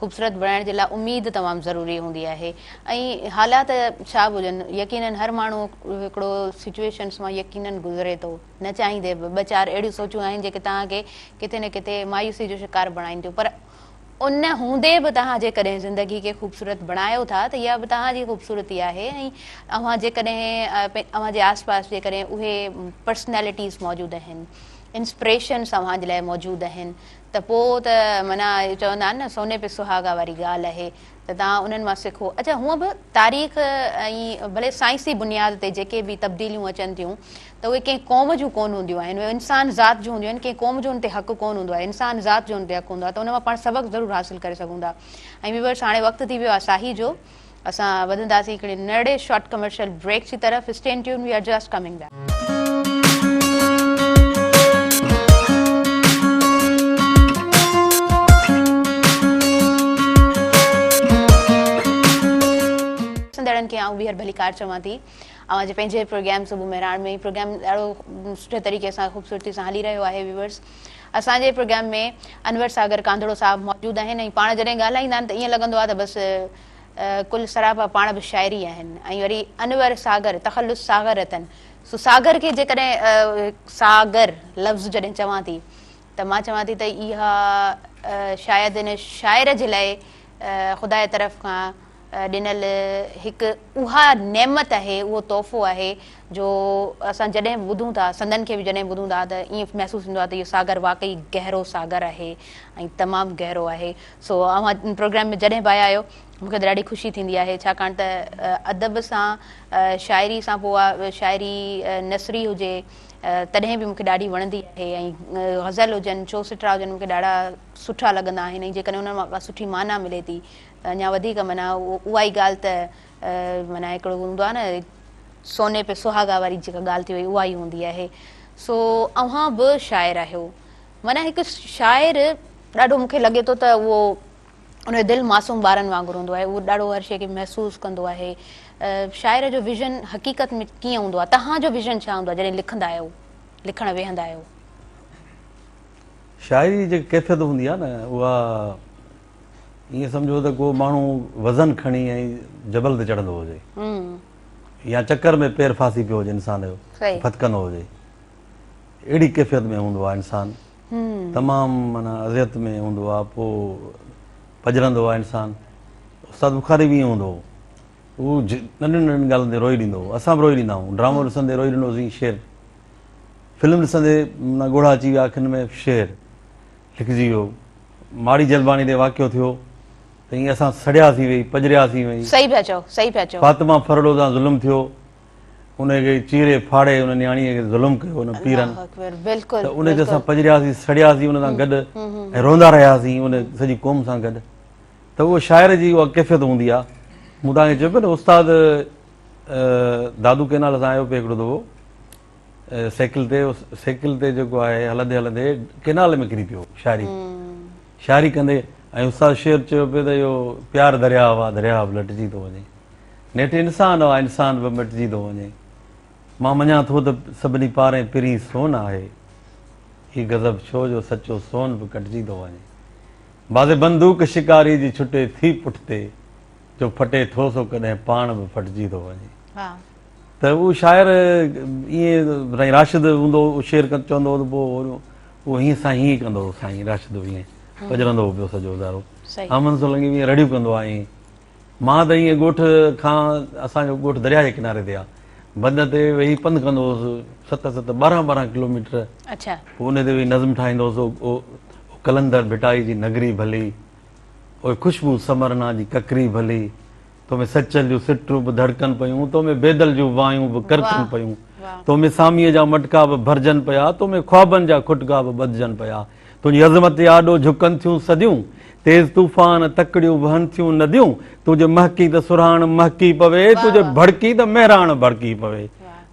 خوبصورت بڻائڻ جي لاء اميد تمام ضروري هوندي آهي ۽ حالات ڇا به هجن يقينن هر ماڻهو هڪڙو سچوئيشنس مان يقينن گذري ٿو نه چاهيندي به ٻه چار اهڙيون سوچون آهن جيڪي توهان کي ڪٿي نه ڪٿي مايوسي جو شڪار بڻائين ٿيون پر ان هوندي به توهان جيڪڏهن زندگي کي خوبصورت بڻايو ٿا ته اها به توهان جي خوبصورتي آهي ۽ اوهان جيڪڏهن اوهان جي آس پاس جيڪڏهن اهي پرسنالٽيز موجود آهن انسپريشنس اوهان جي لاء موجود آهن ته پوء ته معنيٰ چوندا آهن نه سوني پي سهاڳا واري ڳالهه اهي ته توهان انهن مان سکو. اچا هونء به تاريخ ۽ ڀلي سائنسي بنياد تي جيڪي به تبديليون اچن ٿيون ته اهي ڪنهن قوم جون ڪونه هونديون آهن اهي انسان ذات جون هونديون آهن ڪنهن قوم جو ان تي حق ڪونه هوندو آهي انسان ذات جو ان تي حق هوندو آهي ته ان مان پاڻ سبق ضرور حاصل ڪري سگهون ٿا ۽ ويورس هاڻي وقت ٿي ويو آهي ساهي جو اسان وڌنداسين هڪڙي نرڙي شارٽ ڪمرشل بريڪ جي طرف stay tuned we are just coming back. ڏسندڙن کي آئون ٻيهر ڀليڪار چوان ٿي اوهان جي پنهنجي پروگرام صبح مهراڻ ۾ پروگرام ڏاڍو سٺي طريقي سان خوبصورتي سان هلي رهيو آهي ويورس اسان جي پروگرام ۾ انور ساگر ڪانڌڙو صاحب موجود آهن ۽ پاڻ جڏهن ڳالهائيندا آهن ته ائين لڳندو آهي ته بس ڪل سراپا پاڻ به شاعري آهن ۽ وري انور ساگر تخلص ساغر اٿن سو ساگر کي جيڪڏهن ساگر لفظ جڏهن چوان ٿي ته مان چوان ٿي ته اها شايد ان شاعر جي لاء خدا جي طرف کان ڏنل هڪ اها نعمت آهي اهو تحفو آهي جو اسان جڏهن ٻڌون ٿا سندن کي به جڏهن ٻڌون ٿا ته ائين محسوس ٿيندو آهي ته اهو ساگر واقعي گهرو ساگر آهي ۽ تمام گهرو آهي سو اوهان ان پروگرام ۾ جڏهن به آيا آهيو مون کي ته ڏاڍي خوشي ٿيندي آهي ڇاڪاڻ ته ادب سان شاعري سان پوء اها شاعري نثري هجي تڏهن به مون کي ڏاڍي وڻندي آهي ۽ غزل هجن چوسٽرا هجن مون کي ڏاڍا سٺا لڳندا آهن ۽ جيڪڏهن انهن مان ڪا سٺي معنيٰ ملي ٿي ته اڃا وڌيڪ معنيٰ اها ئي ڳالهه ته معنيٰ هڪڙو هوندو آهي نه سوني پي سهاڳا واري جيڪا ڳالهه ٿي وئي اها ئي هوندي آهي سو اوهان به شاعر آهيو معنيٰ هڪ شاعر ڏاڍو مون کي لڳي ٿو ته اهو ان جو دل معصوم ٻارن وانگر هوندو آهي اهو ڏاڍو هر شيء کي محسوس ڪندو آهي شاعر جو ويزن حقيقت ۾ ڪيئن هوندو آهي تهان جو ويزن ڇا هوندو آهي جڏهن لکندا آهيو لکڻ ويهندا آهيو شاعري جي جيڪا ڪيفيت هوندي آهي نه اها ائين سمجهو ته ڪو ماڻهو وزن کڻي ۽ جبل تي چڙهندو هجي يا چڪر ۾ پير ڦاسي پيو هجي انسان جو ڦٿڪندو هجي اهڙي ڪيفيت ۾ هوندو آهي انسان تمام معنيٰ اذيت ۾ هوندو آهي پوء پڄرندو آهي انسان استاد بخاري به ائين هوندو هو ننڍين ننڍين ڳالهين تي روئي ڏيندو هو اسان به روئي ڏيندا آهيون ڊرامو ڏسندي روئي ڏنوسين شير فلم ڏسندي معنيٰ ڳوڙها اچي ويا اکين ۾ شير لکجي ويو ماڙي جلباڻي تي واقعو ٿيو ته ائين اسان سڙياسين ويهي پڄرياسين ويهي فاطمه فرڙو سان ظلم ٿيو ان کي چيري ڦاڙي ان نياڻيء کي ظلم ڪيو ان پيرن ته ان تي اسان پڄرياسين سڙياسين ان سان گڏ ۽ روندا رهياسين ان سڄي قوم سان گڏ ته اهو شاعر جي اها ڪيفيت هوندي آهي مون تان کي چيو پيو نه استاد دادو ڪينال سان آيو پيو هڪڙو دفعو سائيڪل تي سائيڪل تي جيڪو آهي هلندي هلندي ڪينال ۾ ڪري پيو شاعري شاعري ڪندي ۽ استاد شعر چيو پيو ته اهو پيار درياهه آ درياهه به لٽجي ٿو وڃي نيٺ انسان آ انسان به مٽجي ٿو وڃي. مان مڃان ٿو ته سڀني پارين پرين سون آهي. هي غضب ڇو جو سچو سون به ڪٽجي ٿو وڃي. بعضي بندوق شڪاري جي ڇٽي ٿي پٺتي جو ڦٽي ٿو سو ڪڏهن پاڻ به ڦٽجي ٿو وڃي. ته اهو شاعر ائين سائين راشد هوندو هو شعر چوندو هو ته پوء اهو هيئن سائين هيئن ڪندو هو سائين راشد به ائين پڄرندو هو پيو سڄو ادارو. احمد سولنگي به ائين رڙيون ڪندو آهي. مان ته ائين ڳوٺ کان اسان جو ڳوٺ درياء جي ڪناري تي آ بند تي ويهي پنڌ ڪندو هوس ست ست ٻارهن ٻارهن ڪلوميٽر اڇا پوء انهي تي ويهي نظم ٺاهيندو هوس او قلندر ڀٽائي جي نگري ڀلي او خوشبو سمرنا جي ڪڪري ڀلي تو ۾ سچل جون سٽون به ڌڙڪن پيون تو ۾ بيدل جون وايون به ڪرڪن پيون تو ۾ ساميء جا مٽڪا به ڀرجن پيا تو ۾ خوابن جا کٽڪا به ٻڌجن پيا تنهنجي عظمت جي آڏو جهڪن ٿيون صديون، تيز طوفان، تڪڙيون وهن ٿيون نديون، تون جي مهڪين ته سرهاڻ مهڪي پوي، تون جي ڀڙڪين ته مهراڻ ڀڙڪي پوي.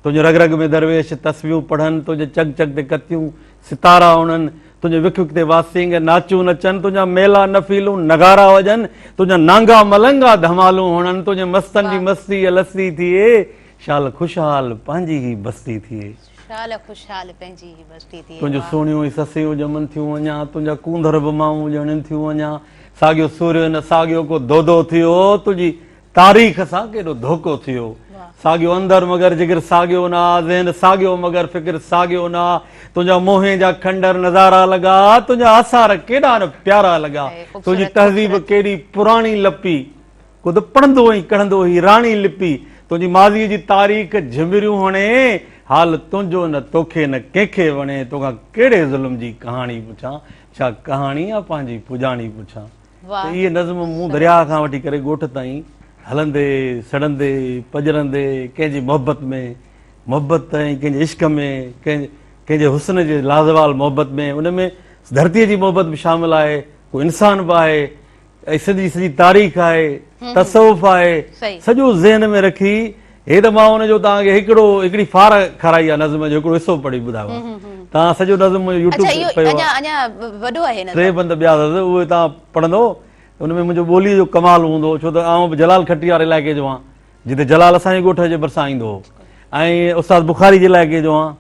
تنهنجي رڳ رڳ ۾ درويش تسبيحون پڙهن، تنهنجي چڳ چڳ تي ڪتيون ستارا اڻن، تنهنجي وک وک تي واسينگ ناچون نچن، تنهنجا ميلا نفيلون نغارا وڄن، تنهنجا نانگا ملنگا ڌمالون هڻن، تنهنجي مستن جي مستي لستي ٿئي، شال خوشحال پنهنجي هي بستي ٿئي. شال خوشحال پنهنجي هي بستي ٿئي تنهنجون واهه. سهڻيون هي سسيون ڄمن ٿيون اڃا تنهنجا ڪونڌر به مائون ڄڻين ٿيون اڃا ساڳيو سورهيو هن ساڳيو ڪو دودو ٿيو تنهنجي تاريخ سان ڪيڏو ڌوڪو ٿيو واهه. ساڳيو اندر مگر جگر ساڳيو نه آ ذهن ساڳيو مگر فڪر ساڳيو نه آ تنهنجا موهين جا کنڊر نظارا لڳا تنهنجا آثار ڪيڏا نه پيارا لڳا هي تنهنجي خوبصورت تهذيب خوبصورت. ڪيڏي پراڻي لپي خود پڙهندو ۽ ڪڙهندو هي راڻي لپي تنهنجي ماضي جي تاريخ جهمريون هڻي حال تنهنجو نه توکي نه ڪنهن کي وڻي توکان ڪهڙي ظلم جي ڪهاڻي پڇان ڇا ڪهاڻي يا پنهنجي پڄاڻي پڇان ته اهي نظم مون درياء کان وٺي ڪري ڳوٺ تائين هلندي سڙندي پڄرندي ڪنهن جي محبت ۾ محبت ۽ ڪنهن جي عشق ۾ ڪنهن ڪنهن جي حسن جي لازوال محبت ۾ ان ۾ ڌرتي جي محبت به شامل آهي ڪو انسان به آهي اهي سنڌ جي سڄي تاريخ آهي، تصوف آهي، سڄو ذهن ۾ رکي هي ته مان ان جو توهان کي هڪڙو هڪڙي ڦار کارائي آهي نظم جو هڪڙو حصو پڙهي ٻڌايو آهي. توهان سڄو نظم منهنجو يوٽيوب تي پيو آهي. اهو اڃا وڏو آهي نظم. ٽي بند ٻيا اٿس اهي توهان پڙهندو ان ۾ منهنجو ٻوليء جو ڪمال هوندو ڇو ته آئون به جلال کٽيار علائقي جو آهيان. جتي جلال اسان جي ڳوٺ جي ڀرسان ايندو هو ۽ استاد بخاري جي علائقي جو آهيان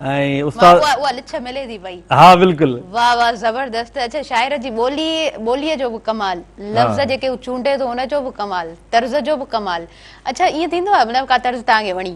۽ استاد واهه اها لڇ ملي ٿي پئي ها بلڪل واهه واهه زبردست اڇا شاعر جي ٻولي ٻولي جو به ڪمال لفظ جيڪي هو چونڊي ٿو ان جو به ڪمال طرز جو به ڪمال اڇا ائين ٿيندو آهي مطلب ڪا طرز تهان کي وڻي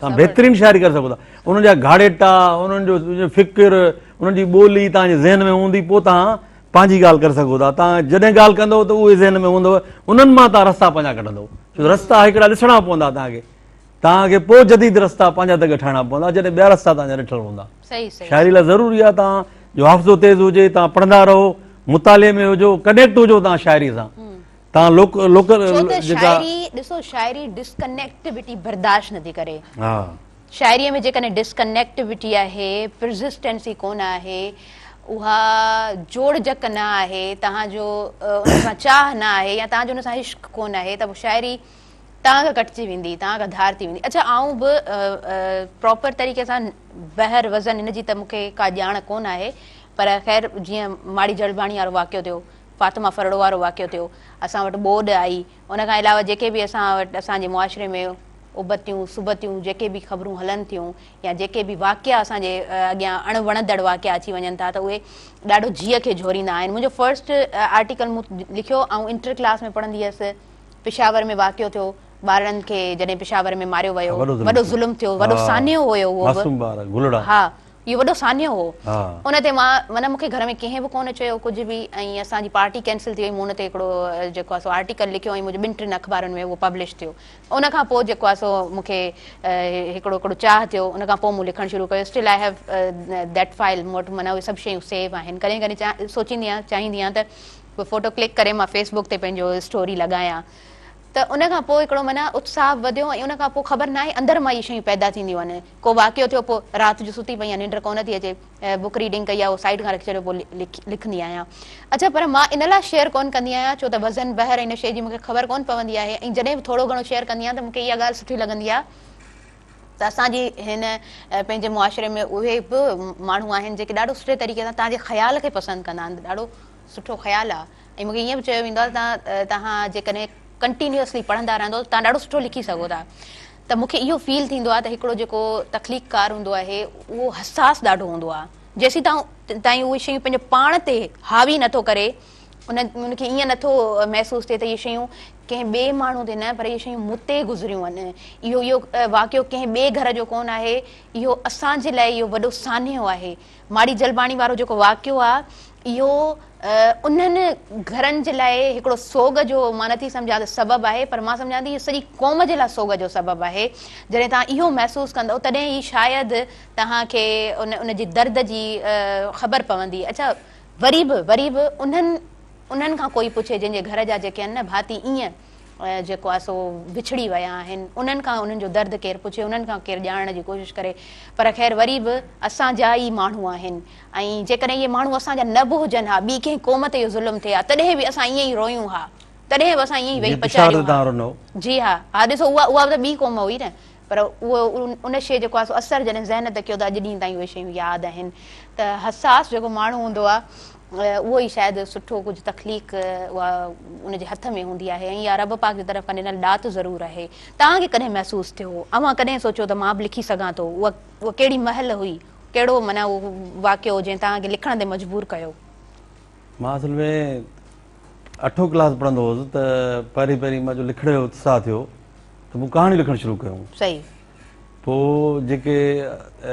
تان بهترين شاعري ڪري سگهو ٿا انهن جا گهاڙيٽا انهن جو فڪر انهن جي ٻولي تان جي ذهن ۾ هوندي پوء تان پنهنجي ڳالهه ڪري سگهو ٿا تان جڏهن ڳالهه ڪندو ته اهي ذهن ۾ هوندو انهن مان تان رستا پنهنجا ڪڍندو ڇو رستا هڪڙا ڏسڻا پوندا تان کي تان کي پوء جديد رستا پنهنجا دڳ ٺاهڻا پوندا جڏهن ٻيا رستا تان جا ڏٺل هوندا شاعري لاء ضروري آ تان جو حافظو تيز هجي تان پڙهندا رهو مطالعي ۾ هجو ڪنيڪٽ هجو تان شاعري سان تان لوڪ لوڪ ڇو ته شاعري ڏسو شاعري ڊسڪنيڪٽيوٽي برداشت نه ٿي ڪري ها شاعري ۾ جيڪڏهن ڊسڪنيڪٽيوٽي آهي پرزسٽينسي ڪونه آهي اها جوڙ جڪ نه آهي تهان جو ان سان چاهه نه آهي يا تهان جو ان سان عشق ڪونه آهي ته شاعري تان کان ڪٽجي ويندي تان کان ڌار ٿي ويندي اڇا آئون به پراپر طريقي سان بهر وزن ان جي ته مون کي ڪا ڄاڻ ڪونه آهي پر خير جيئن ماڙي جڙباڻي وارو واقعو ٿيو فاطمه ڦرڙو وارو واقعو ٿيو، اسان وٽ ٻوڏ آئي، ان کان علاوه جيڪي به اسان وٽ اسان جي معاشري ۾ ابتيون سبتيون جيڪي به خبرون هلن ٿيون يا جيڪي به واقعا اسان جي اڳيان اڻ وڻندڙ واقعا اچي وڃن ٿا ته اهي ڏاڍو جيء کي جهوريندا آهن. منهنجو فرسٽ آرٽيڪل مون لکيو، آئون انٽر ڪلاس ۾ پڙهندي هيس، پشاور ۾ واقعو ٿيو، ٻارڙن کي جڏهن پشاور ۾ ماريو ويو، وڏو ظلم ٿيو، وڏو سانحو هيو اهو به، ها اهو وڏو سانحو هو ان تي مان معنيٰ مون کي گهر ۾ ڪنهن به ڪونه چيو ڪجهه به ۽ اسان جي پارٽي ڪينسل ٿي وئي مون ان تي هڪڙو جيڪو آهي سو آرٽيڪل لکيو ۽ منهنجي ٻن ٽن اخبارن ۾ اهو پبلش ٿيو ان کان پوء جيڪو آهي سو مون کي هڪڙو هڪڙو چاهه ٿيو ان کان پوء مون لکڻ شروع ڪيو still I have that file مون وٽ معنيٰ اهي سڀ شيون سيو آهن ڪڏهن ڪڏهن چاهه سوچيندي آهيان چاهيندي آهيان ته ڪو فوٽو ڪلڪ ڪري مان فيس بڪ تي پنهنجو اسٽوري لڳايان ته ان کان پوء هڪڙو معنيٰ اتساهه وڌيو ۽ ان کان پوء خبر ناهي اندر مان اهي شيون پيدا ٿينديون وڃن ڪو واقعو ٿيو پوء رات جو ستي پئين آهيان ننڊ ڪونه ٿي اچي بڪ ريڊنگ ڪئي آهي اهو سائيڊ کان رکي ڇڏيو پوء لکندي آهيان اڇا پر مان ان لاء شيئر ڪونه ڪندي آهيان ڇو ته وزن بحر ۽ نشي جي مون کي خبر ڪونه پوندي آهي ۽ جڏهن به ٿورو گهڻو شيئر ڪندي آهيان ته مون کي اها ڳالهه سٺي لڳندي آهي ته اسان جي هن پنهنجي معاشري ۾ اهي به ماڻهو آهن جيڪي ڏاڍو سٺي طريقي سان تهان جي خيال کي پسند ڪندا آهن ڏاڍو سٺو خيال آهي ۽ مون کي ائين به چيو ويندو آهي ته تهان جيڪڏهن ڪنٽينيوسلي پڙهندا رهندو ته تهان ڏاڍو سٺو لکي سگهو ٿا ته مون کي اهو فيل ٿيندو آهي ته هڪڙو جيڪو تخليق ڪار هوندو آهي اهو حساس ڏاڍو هوندو آهي جيسيتان تائين اهي شيون پنهنجو پاڻ تي حاوي نٿو ڪري ان کي ائين نٿو محسوس ٿئي ته اهي شيون ڪنهن ٻئي ماڻهو تي نه پر اهي شيون مون تي گذريون آهن اهو اهو واقعو ڪنهن ٻئي گهر جو ڪونه آهي اهو اسان جي لاء اهو وڏو سانحو آهي ماڙي جلباڻي وارو جيڪو واقعو آ اهو انهن گهرن جي لاء هڪڙو سوڳ جو مان نه ٿي سمجهان ته سبب آهي پر مان سمجهان ٿي اهو سڄي قوم جي لاء سوڳ جو سبب آهي جڏهن توهان اهو محسوس ڪندؤ تڏهن ئي شايد توهان کي ان ان جي درد جي خبر پوندي اڇا وري به وري به انهن انهن کان ڪوئي پڇي جنهن جي گهر جا جيڪي آهن نه ڀاتي ائين جيڪو آهي سو وڇڙي ويا آهن انهن کان انهن جو درد ڪير پڇي انهن کان ڪير ڄاڻڻ جي ڪوشش ڪري پر خير وري به اسان جا ئي ماڻهو آهن ۽ جيڪڏهن اهي ماڻهو اسان جا نه به هجن ها ٻي ڪنهن قوم تي اهو ظلم ٿئي ها تڏهن به اسان ائين ئي رويون ها تڏهن به اسان ائين ئي ويهي پچاريون ها جي ها ها ڏسو اها اها به ته ٻي قوم هئي نه پر اهو ان شيء جيڪو آهي سو اثر جڏهن ذهن تي ڪيو ته اڄ ڏينهن تائين اهي شيون ياد آهن ته حساس جيڪو ماڻهو هوندو آهي اهو ئي شايد سٺو ڪجهه تخليق اها ان جي هٿ ۾ هوندي آهي ۽ اها رب پاڪ جي طرف کان ڏنل ڏات ضرور آهي. توهان کي ڪڏهن محسوس ٿيو هو اوهان ڪڏهن سوچيو ته مان به لکي سگهان ٿو اها اها ڪهڙي مهل هئي ڪهڙو معنيٰ اهو واقعو جنهن توهان کي لکڻ تي مجبور ڪيو. مان اصل ۾ اٺون ڪلاس پڙهندو هوس ته پهرين پهرين مان جو لکڻ جو اتساهه ٿيو ته مون ڪهاڻيون لکڻ شروع ڪيون. صحيح. پوء جيڪي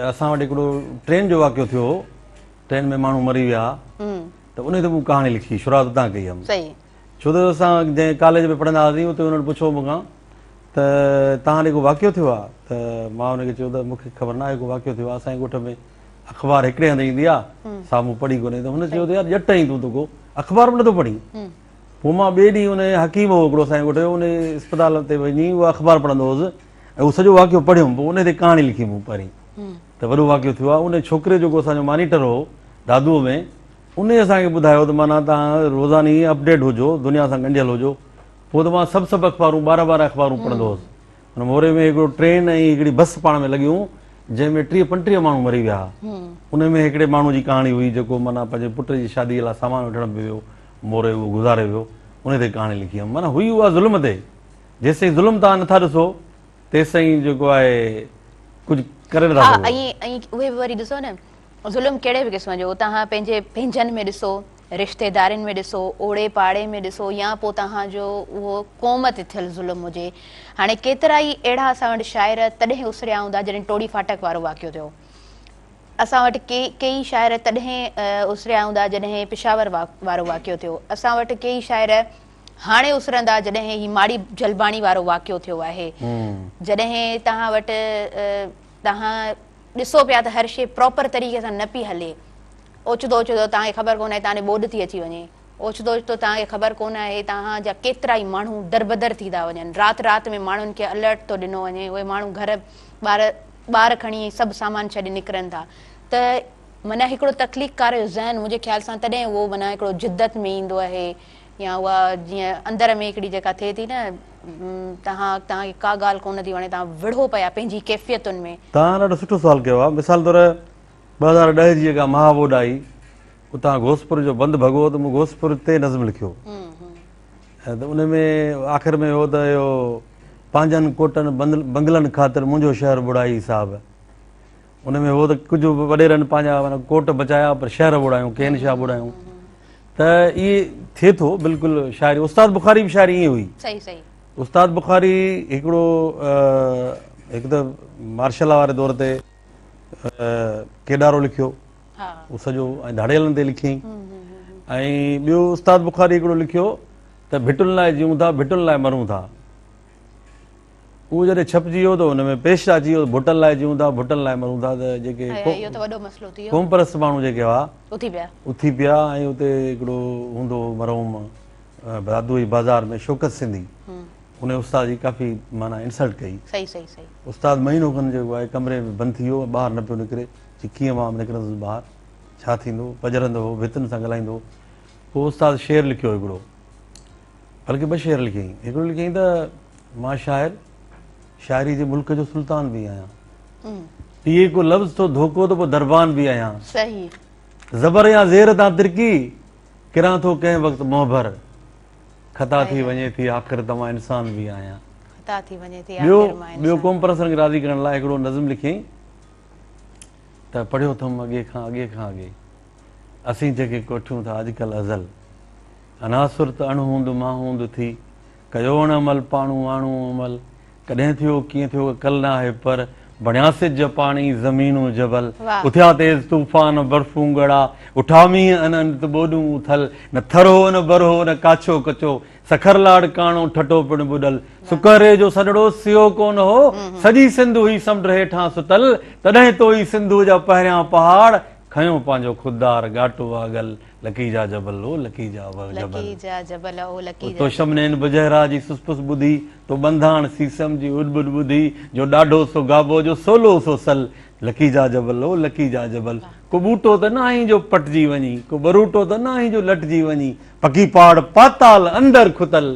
اسان وٽ هڪڙو ٽرين جو واقعو ٿيو هو، ٽرين ۾ ماڻهو مري ويا ته انهي تي مون ڪهاڻي لکي، شروعات اتان ڪئي هيم. صحيح. ڇو ته اسان جنهن ڪاليج ۾ پڙهندا هئاسين اتي هن پڇيو مون کان ته توهان ڏي ڪو واقعو ٿيو آهي ته مان هن کي چيو ته مون کي خبر ناهي ڪو واقعو ٿيو آهي اسان جي ڳوٺ ۾ اخبار هڪڙي هنڌ ايندي آ سامهون پڙهي ڪونهي ته هن چيو ته يار ڄٽ آهين تون ته ڪو اخبار به نٿو پڙهين پوء مان ٻئي ڏينهن ان حڪيم هو هڪڙو اسان جي ڳوٺ جو ان اسپتال تي وڃي اهو اخبار پڙهندو هوس ۽ اهو سڄو واقعو پڙهيم پوء ان تي ڪهاڻي لکي مون پرين ته وڏو واقعو ٿيو آ ان ڇوڪري جيڪو اسان جو مانيٽر هو دادوء ۾ ان اسان کي ٻڌايو ته معنيٰ تان روزاني اپڊيٽ هجو دنيا سان ڳنڍيل هجو پوء ته مان سڀ سڀ اخبارون ٻارهن ٻارهن اخبارون پڙهندو هوس ان موري ۾ هڪڙو ٽرين ۽ هڪڙي بس پاڻ ۾ لڳيون جنهن ۾ ٽيهه پنٽيهه ماڻهو مري ويا. انهن ۾ هڪڙي ماڻهو جي ڪهاڻي هئي جيڪو معنيٰ پنهنجي پٽ جي شادي لاء سامان وٺڻ به ويو موري اهو گذاري ويو انهي تي ڪهاڻي لکي هيم معنيٰ هئي اها ظلم تي جيسين ظلم توهان نٿا ڏسو تيسين جيڪو آهي ڪجهه ڪري نٿا سگهو. ظلم ڪهڙي به قسم جو توهان پنهنجي پنهنجن ۾ ڏسو، رشتيدارين ۾ ڏسو، اوڙي پاڙي ۾ ڏسو يا پوء توهان جو اهو قوم تي ٿيل ظلم هجي. هاڻي ڪيترائي اهڙا اسان وٽ شاعر تڏهن اسريا هوندا جڏهن ٽوڙي ڦاٽڪ وارو واقعو ٿيو. اسان وٽ ڪي ڪيئي شاعر تڏهن اسريا هوندا جڏهن پشاور وارو واقعو ٿيو. اسان وٽ ڪيئي شاعر هاڻي اسرندا جڏهن هي ماڙي جلباڻي وارو واقعو ٿيو آهي. جڏهن توهان وٽ توهان ڏسو پيا ته هر شيء پراپر طريقي سان نه پئي هلي. اوچتو اوچتو توهان کي خبر ڪونه آهي توهان ڏي ٻوڏ ٿي اچي وڃي. اوچتو اوچتو توهان کي خبر ڪونه آهي توهان جا ڪيترائي ماڻهو دربدر ٿي ٿا وڃن. رات رات ۾ ماڻهن کي الرٽ ٿو ڏنو وڃي. اهي ماڻهو گهر ٻار ٻار کڻي ۽ سڀ سامان ڇڏي نڪرن ٿا ته معنيٰ هڪڙو تخليق ڪاره جو ذهن منهنجي خيال سان تڏهن اهو معنيٰ هڪڙو جدت ۾ ايندو آهي. يا اها جيئن اندر ۾ هڪڙي جيڪا ٿئي ٿي نه توهان توهان کي ڪا ڳالهه ڪونه ٿي وڻي توهان وڙهو پيا پنهنجي ڪيفيتن ۾. توهان ڏاڍو سٺو سوال ڪيو آهي مثال طور ٻه هزار ڏهه جي جيڪا مها ٻوڏ آئي اتان گوسپور جو بند ڀڳو ته مون گوسپور تي نظم لکيو ۽ ته ان ۾ آخر ۾ هو ته اهو پنهنجن ڪوٽن بنگلن خاطر منهنجو شهر ٻوڙائي صاحب ان ۾ هو ته ڪجهه وڏيرن پنهنجا معنيٰ ڪوٽ بچايا پر شهر ٻوڙايون، ڪين شاهه ٻوڙايون ته اهي ٿئي ٿو بلڪل شاعري استاد بخاري به شاعري ائين هئي. صحيح صحيح. استاد بخاري هڪڙو هڪ ته مارشل لا واري دور تي ڪيڏارو لکيو اهو سڄو ۽ ڌاڙيلن تي لکيائين ۽ ٻيو استاد بخاري هڪڙو لکيو ته ڀٽن لاء جيئون ٿا ڀٽن لاء مرون ٿا. اهو جڏهن ڇپجي ويو ته ان ۾ پيش اچي ويو ته ڀٽن لاء جيئون ٿا ڀٽن لاء مرون ٿا ته جيڪي قوم پرست ماڻهو جيڪي هئا اٿي پيا ۽ اتي هڪڙو هوندو هو مرحوم برادوئي بازار ۾ شوڪت سنڌي ان استاد جي ڪافي معنيٰ انسلٽ ڪئي استاد مهينو کن جيڪو آهي ڪمري ۾ بند ٿي ويو ٻاهر نه پيو نڪري چي ڪيئن مان نڪرندس ٻاهر ڇا ٿيندو پڄرندو هو ڀتن سان ڳالهائيندو هو پوء استاد شعر لکيو هڪڙو بلڪه ٻه شعر لکيائين. هڪڙو لکيائين ته مان شاعر شاعري جي ملڪ جو سلطان به آهيان. پيئي ڪو لفظ ٿو ڌوڪو ته پوء دربان به آهيان. صحيح. زبر يا زير تان ترڪي ڪران ٿو ڪنهن وقت منهنڀر. خطا ٿي وڃي ٿي آخر ته مان انسان به آهيان. خطا ٿي وڃي ٿي آخر مان انسان. ٻيو قوم پرستن کي راضي ڪرڻ لاء هڪڙو نظم لکيائين ته پڙهيو ٿم اڳي کان اڳي کان اڳي. اسين جيڪي ڪوٺيون ٿا اڄڪلهه ازل. عناصر ته اڻ هوند مان هوند ٿي، ڪيو اڻ عمل پاڻو آڻو عمل، ڪڏهن ٿيو ڪيئن ٿيو اڪل ناهي پر، بڻيا سج پاڻي زمين و جبل، واهه. اٿيا تيز طوفان برفون ڳڙا، اٺا مينهن ان انت ٻوڏون اٿل، نه ٿر هو نه بر هو نه ڪاڇو ڪچو، سکر لاڙ ڪاڻو ٺٽو پڻ ٻڏل، سڪهري جو سڏڙو سيو ڪونه هو، سڄي سنڌ هئي سمنڊ هيٺان ستل، تڏهن توهي سنڌوء جا پهريان پهاڙ، کنيو پنهنجو خوددار ڳاٽو آڳل، لڪي جا جبل او لڪي جا جبل. لڪي جا جبل او لڪي جا جبل. تو شمنين بجهرا جي سس پس ٻڌي، تو ٻنڌاڻ سيسم جي اڏ ٻڏ ٻڌي، جو ڏاڍو سو گابو جو سولو سو سل، لڪي جا جبل او لڪي جا جبل. ڪو ٻوٽو ته ناهين جو پٽجي وڃين، ڪو ٻروٽو ته ناهين جو لٽجي وڃين، پڪي پاڙ پاتال اندر کتل،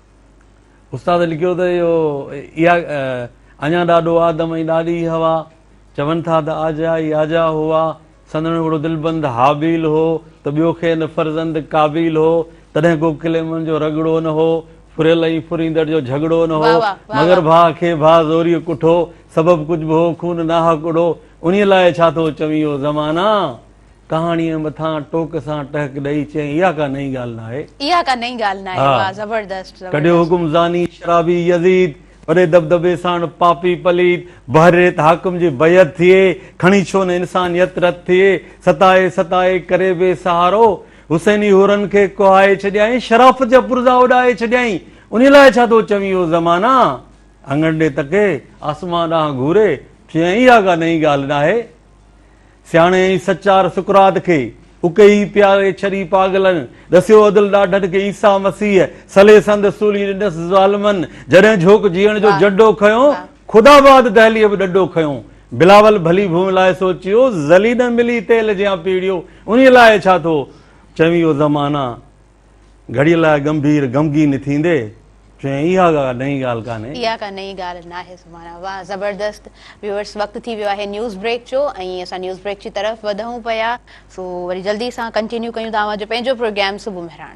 استاد لکيو ته اهو اها اڃا ڏاڏو آدم ۽ ڏاڏي حوا چون ٿا ته آجا ئي آجا هئا، سندن هڪڙو دلبند هابيل هو ته ٻيو کين فرزند قابيل هو، تڏهن ڪو ڪليمن جو رڳڙو نه هو، ڦريل ۽ ڦريندڙ جو جهڳڙو نه هو، مگر ڀاء کي ڀاء زوريء ڪٺو، سبب ڪجهه به هو خون ناحق اڙو، انهيء لاء ڇا ٿو چوين او زمانا! ڪهاڻيء مٿان ٽوڪ سان ٽهڪ ڏئي چيائين، اها ڪا نئين ڳالهه ناهي. اها ڪا نئين ڳالهه ناهي. واهه زبردست. ڪڍيو حڪم زاني شرابي يزيد. وڏي دٻدٻي ساڻ پاپي پليد. بحر ريت حاڪم جي بيعت ٿئي. کڻي ڇو نه انسانيت رت ٿئي. ستائي ستائي ڪري بي سهارو. حسيني حورن کي ڪهائي ڇڏيائين. شرافت جا پرزا اڏائي ڇڏيائين. انهيء لاء ڇا ٿو چوين او زمانا. اڱڻ ڏي تڪي، آسمان ڏانهن گهوري، چيائين، اها ڪا نئين ڳالهه ناهي. سياڻي ۽ سچار سقراط کي اڪي ئي پياري ڇري پاڳلن ڏسيو عدل ڏاڍن کي عيسيٰ مسيح سلي سنڌ سولي ڏنس ظالمن جڏهن جهوڪ جيئڻ جو جڏو کنيو خدا بعد دهليء به ڏڏو کنيو بلاول ڀلي ڀونء لاء سوچيو ذلي نه ملي تيل جيان پيڙيو انهي لاء ڇا ٿو چوين او زمانا گهڙيء لاء ڳنڀير غمگين ٿيندي چيائين، اها ڪا نئين ڳالهه ڪانهي. اها ڪا نئين ڳالهه ناهي سمانا. واهه زبردست ويوئرس وقت ٿي ويو آهي نيوز بريڪ جو ۽ اسان نيوز بريڪ جي طرف وڌون پيا سو وري جلدي سان ڪنٽينيو ڪيون ٿا اوهان جو پنهنجو پروگرام صبح مهراڻ.